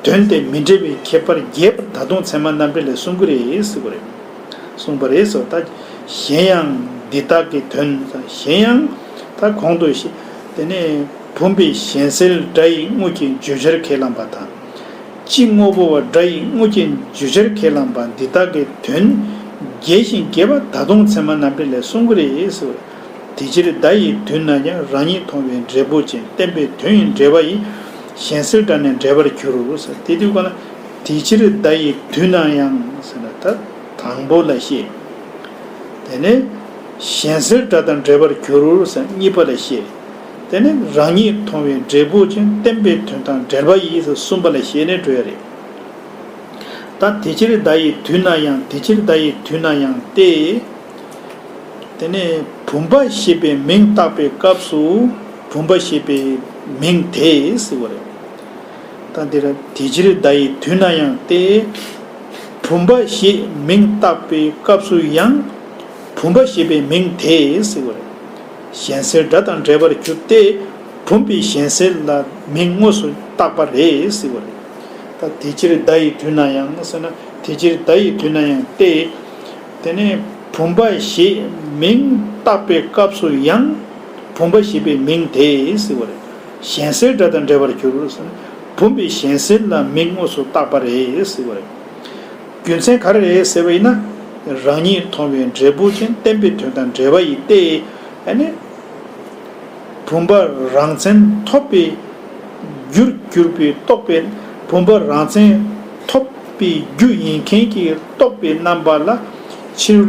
དོན་དེ་མི་འདྲེས་པའི་ཁྱད་པར་རྒྱས་པར་ད་དུང་ཚད་མ་རྣམ་འགྲེལ་ལས་གསུང་གི་རེད། གསུངས་པ་རེད་ཟེར་ད། གཞན་ཡང། འདི་དག་གི་དོན། གཞན་ཡང། ད་གོང་དུ། དེ་ནས། བུམ་པའི་གཞན་སེལ་སྒྲ་ཡི་དངོས་ཀྱི་བརྗོད་བྱར་ཁས་བླངས་པ་དང། སྤྱི་དངོས་པོ་བ་སྒྲ་ཡི་དངོས་ཀྱི་བརྗོད་བྱར་ཁས་བླངས་པ་འདི་དག་གི་དོན། རྒྱས་ཤིང་རྒྱས་པ་ད་དུང་ཚད་མ་རྣམ་འགྲེལ་ལས་གསུངས་ཀྱི་རེད་ཟེར། དེ་ཕྱིར་བརྡ་ཡི་དུས་ན་ཡང་རང་ཉིད་མཐོང་བའི་འབྲས་བུ་ཅན་བསྟན་པའི་དོན་ཡིན་འབྲེལ་བ་ཡིས། གཞན་སེལ་སྒྲ་ནི་འབྲེལ་པར་གྱུར། དེ་དུས་ཀ་ན། དེ་ཕྱིར་བརྡ་ཡི་དུས་ན་ཡང་ཟེར་ན་ད་དང་པོ་ལ་བཤད། དེ་ནས་གཞན་སེལ་སྒྲ་དང་འབྲེལ་པར་གྱུར་ཟེར་གཉིས་པ་ལ་བཤད། དེ་ནས་རང་ཉིད་མཐོང་བའི་འབྲས་བུ་ཅན་བསྟན་པའི་དོན་དང་འབྲེལ་པ་ཡིས་གསུམ་པ་ལ་བཤད་ནས་གྲོལ་བ་རེད། ད་དེ་ཕྱིར་བརྡ་ཡི་དུས་ན་ཡང་དེ་ཕྱིར་བརྡ་ཡི་དུས་ན་ཡང་སྟེ། དེ་ནས་བུམ་པ་ཞེས་པའི་མིང་བཏགས་པའི་སྐབས་སུ་བུམ་པ་ཞེས་པའི་མིང་དེས་བསིལ་བ་རེད། དང་དེ་རབ། དེ་ཕྱིར་བརྡ་ཡི་དུས་ན་ཡང་སྟེ། བུམ་པ་ཞེས་མིང་བཏགས་པའི་སྐབས་སུ་ཡང། བུམ་པ་ཞེས་པའི་མིང་དེས་བསྲེ་བ་རེད། གཞན་སེལ་སྒྲ་དང་འདྲེས་པར་གྱུར་ཏེ། བུམ་པའི་གཞན་སེལ་ལ་མིང་དངོས་སུ་བཏགས་པ་རེས་བསྲེ་བ་རེད། དང་དེ་ཕྱིར་བརྡ་ཡི་དུས་ན་ཡང་ཟེར་ན། དེ་ཕྱིར་བརྡ་ཡི་དུས་ན་ཡང་སྟེ། དེ་ནས་བུམ་པ་ཞེས་མིང་བཏགས་པའི་སྐབས་སུ་ཡང། བུམ་པ་ཞེས་པའི་མིང་དེས་བསྲེ་བ་རེད། གཞན་སེལ་སྒྲ་དང་འདྲེས་པར་གྱུར། བུམ་པའི་གཞན་སེལ་ལ་མིང་དངོས་སུ་བཏགས་པ་རེད། རྒྱུ་མཚན་ག་རེ་རེད་ཟེར་བ་ཡིན་ན། རང་ཉིད་མཐོང་བའི་འབྲས་བུ་ཅན་བསྟན་པའི་དོན་དང་འབྲེལ་བ་ཡིན་ཏེ། བུམ་པ་རང་མཚན་ཐོབ་པའི་རྒྱུར་གྱུར་པའི་རྟོག་པས་བུམ་པ་རང་མཚན་ཐོབ་པའི་རྒྱུ་ཡིན་མཁན་གྱི་རྟོག་པའི་རྣམ་པ་ལ་ཕྱིར།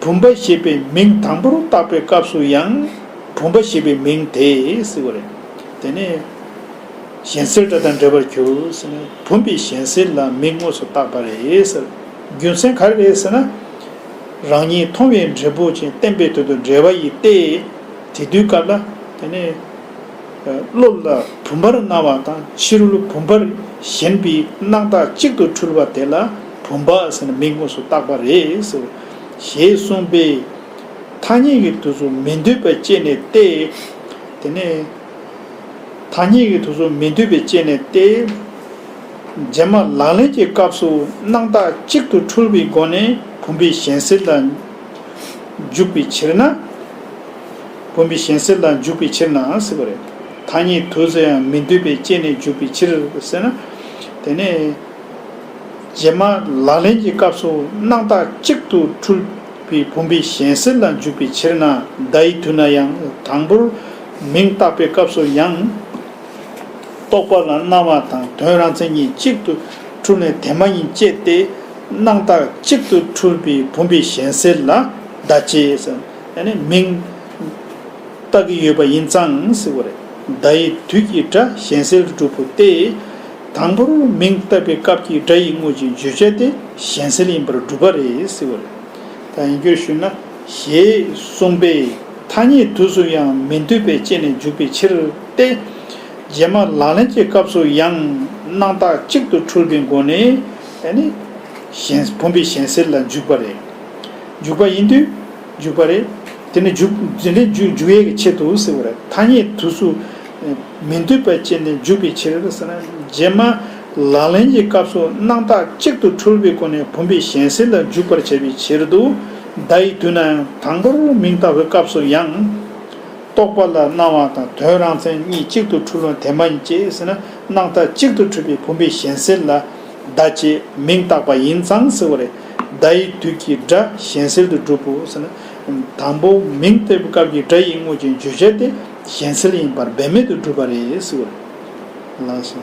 བུམ་པ་ཞེས་པའི་མིང་དང་པོར་བཏགས་པའི་སྐབས་སུ་ཡང་བུམ་པ་ཞེས་པའི་མིང་དེས་བསྲེགས་པ་རེད། དེ་ནས། གཞན་སེལ་སྒྲ་དང་འདྲེས་པར་གྱུར་ཟེར་ནས་བུམ་པའི་གཞན་སེལ་ལ་མིང་དངོས་སུ་བཏགས་པ་རེད་ཟེར། རྒྱུ་མཚན་ག་རེ་རེད་ཟེར་ན། རང་ཉིད་མཐོང་བའི་འབྲས་བུ་ཅན་བསྟན་པའི་དོན་དུ་འབྲེལ་བ་ཡིས་ཏེ། དེ་དུས་སྐབས་ལ། དེ་ནས། གློ་ལ་བུམ་པར་སྣང་བ་དང་ཕྱི་རོལ་བུམ་པར་ཞེན་པའི་སྣང་བརྟགས་གཅིག་ཏུ་འཁྲུལ་བ་དེ་ལ་བུམ་པ་ཟེར་ནས་མིང་དངོས་སུ་བཏགས་པ་རེད། ཞེས་གསུངས་པས། ཐ་སྙད་ཀྱི་དུས་སུ་མི་འདོད་པའི་དཔྱད་ནས་ཏེ། དེ་ནས། ཐ་སྙད་ཀྱི་དུས་སུ་མི་འདོད་པའི་དཔྱད་ནས་ཏེ། རྗེས་མ་ལག་ལེན་གྱི་སྐབས་སུ་སྣང་བརྟགས་གཅིག་ཏུ་འཁྲུལ་བའི་སྒོ་ནས་བུམ་པའི་ཞེན་སེལ་ལ་འཇུག་པའི་ཕྱིར་ན། བུམ་པའི་གཞན་སེལ་ལ་འཇུག་པའི་ཕྱིར་ནའང་སྲིད་པ་རེད། ཐ་སྙད་དུ་སུ་ཡང་མི་འདོད་པས་བསྐྱེད་ནས་འཇུག་པའི་ཕྱིར་ཟེར་ན། དེ་ནི། རྗེས་མ་ལག་ལེན་གྱི་སྐབས་སུ་སྣང་བཏགས་གཅིག་ཏུ་འཁྲུལ་པའི་བུམ་པའི་གཞན་སེལ་ལ་འཇུག་པའི་ཕྱིར་ན་བརྡ་ཡི་དུས་ན་ཡང་དང་པོར་མིང་བཏགས་པའི་སྐབས་སུ་ཡང། རྟོག་པ་ལ་སྣང་བ་དང་དོན་རང་མཚན་ཉིད་གཅིག་ཏུ་འཁྲུལ་ནས་དེ་མ་ཡིན་བསྐྱེད་དེ། སྣང་བཏགས་གཅིག་ཏུ་འཁྲུལ་པའི་བུམ་པའི་གཞན་སེལ་ལ་བརྡ་བསྐྱེད། ཡང་ནི་མིང། བཏགས་ཀྱི་ཡོད་པ་ཡིན་ཙང་སྲིད་པ་རེད། བརྡ་ཡི་དུས་ཀྱི་སྒྲ་གཞན་སེལ་སྒྲུབ་པོ་སྟེ། དང་པོར་མིང་བཏགས་པའི་སྐབས་ཀྱི་སྒྲ་ཡི་དངོས་ཀྱི་བརྗོད་བྱ་དེ་གཞན་སེལ་ཡིན་པར་སྒྲུབ་པ་རེད་སྲིད་པ་རེད། དང་ཡིན་རྒྱུར་ཞུས་ན། ཞེས་གསུངས་པས་ཐ་སྙད་དུས་སུ་ཡང་མི་འདོད་པའི་རྐྱེན་ནས་འཇུག་པའི་ཕྱིར་ཏེ། རྗེས་མ་ལག་ལེན་གྱི་སྐབས་སུ་ཡང་སྣང་བཏགས་གཅིག་ཏུ་འཁྲུལ་པའི་སྒོ་ནས་ཡང་ནི། བུམ་པའི་གཞན་སེལ་ལ་འཇུག་པ་རེད། འཇུག་པ་ཡིན་དུས་འཇུག་པ་རེད། དེ་ནི་འཇུག། འཛིན་ལས་འཇུག་འཇུག་ཡས་ཀྱི་ཆེད་དུ་ཟེར་བ་རེད། ཐ་སྙད་དུ་སུ། མི་འདོད་པའི་རྐྱེན་ནི་འཇུག་པའི་ཕྱིར། རྗེས་མ། ལག་ལེན་གྱི་སྐབས་སུ་སྣང་བཏགས་གཅིག་ཏུ་འཁྲུལ་པའི་སྒོ་ནས་བུམ་པའི་གཞན་སེལ་ལ་འཇུག་པར་བྱེད་པའི་ཕྱིར་དུ། བརྡ་ཡི་དུས་ནའང་དང་པོར་མིང་བཏགས་པའི་སྐབས་སུ་ཡང། རྟོག་པ་ལ་སྣང་བ་དང་དོན་རང་མཚན་གཉིས་གཅིག་ཏུ་འཁྲུལ་བ་དེ་མ་ཡིན་ཅེས་ཟེར་ན་སྣང་བཏགས་གཅིག་ཏུ་འཁྲུལ་པའི་བུམ་པའི་གཞན་སེལ་ལ། བརྡ་བྱས་མིང་བཏགས་པ་ཡིན་ཙང་ཟེར་བ་རེད། བརྡ་ཡི་དུས་ཀྱི་སྒྲ་གཞན་སེལ་དུ་གྲུབ་བོ་ཟེར་ན། དང་པོ་མིང་སྟེར་བའི་སྐབས་ཀྱི་སྒྲ་ཡིག་དངོས་ཀྱི་བརྗོད་བྱ་དེ་གཞན་སེལ་ཡིན་པར་འབད་མེད་དུ་གྲུབ་པ་རེད། ལགས་སོ།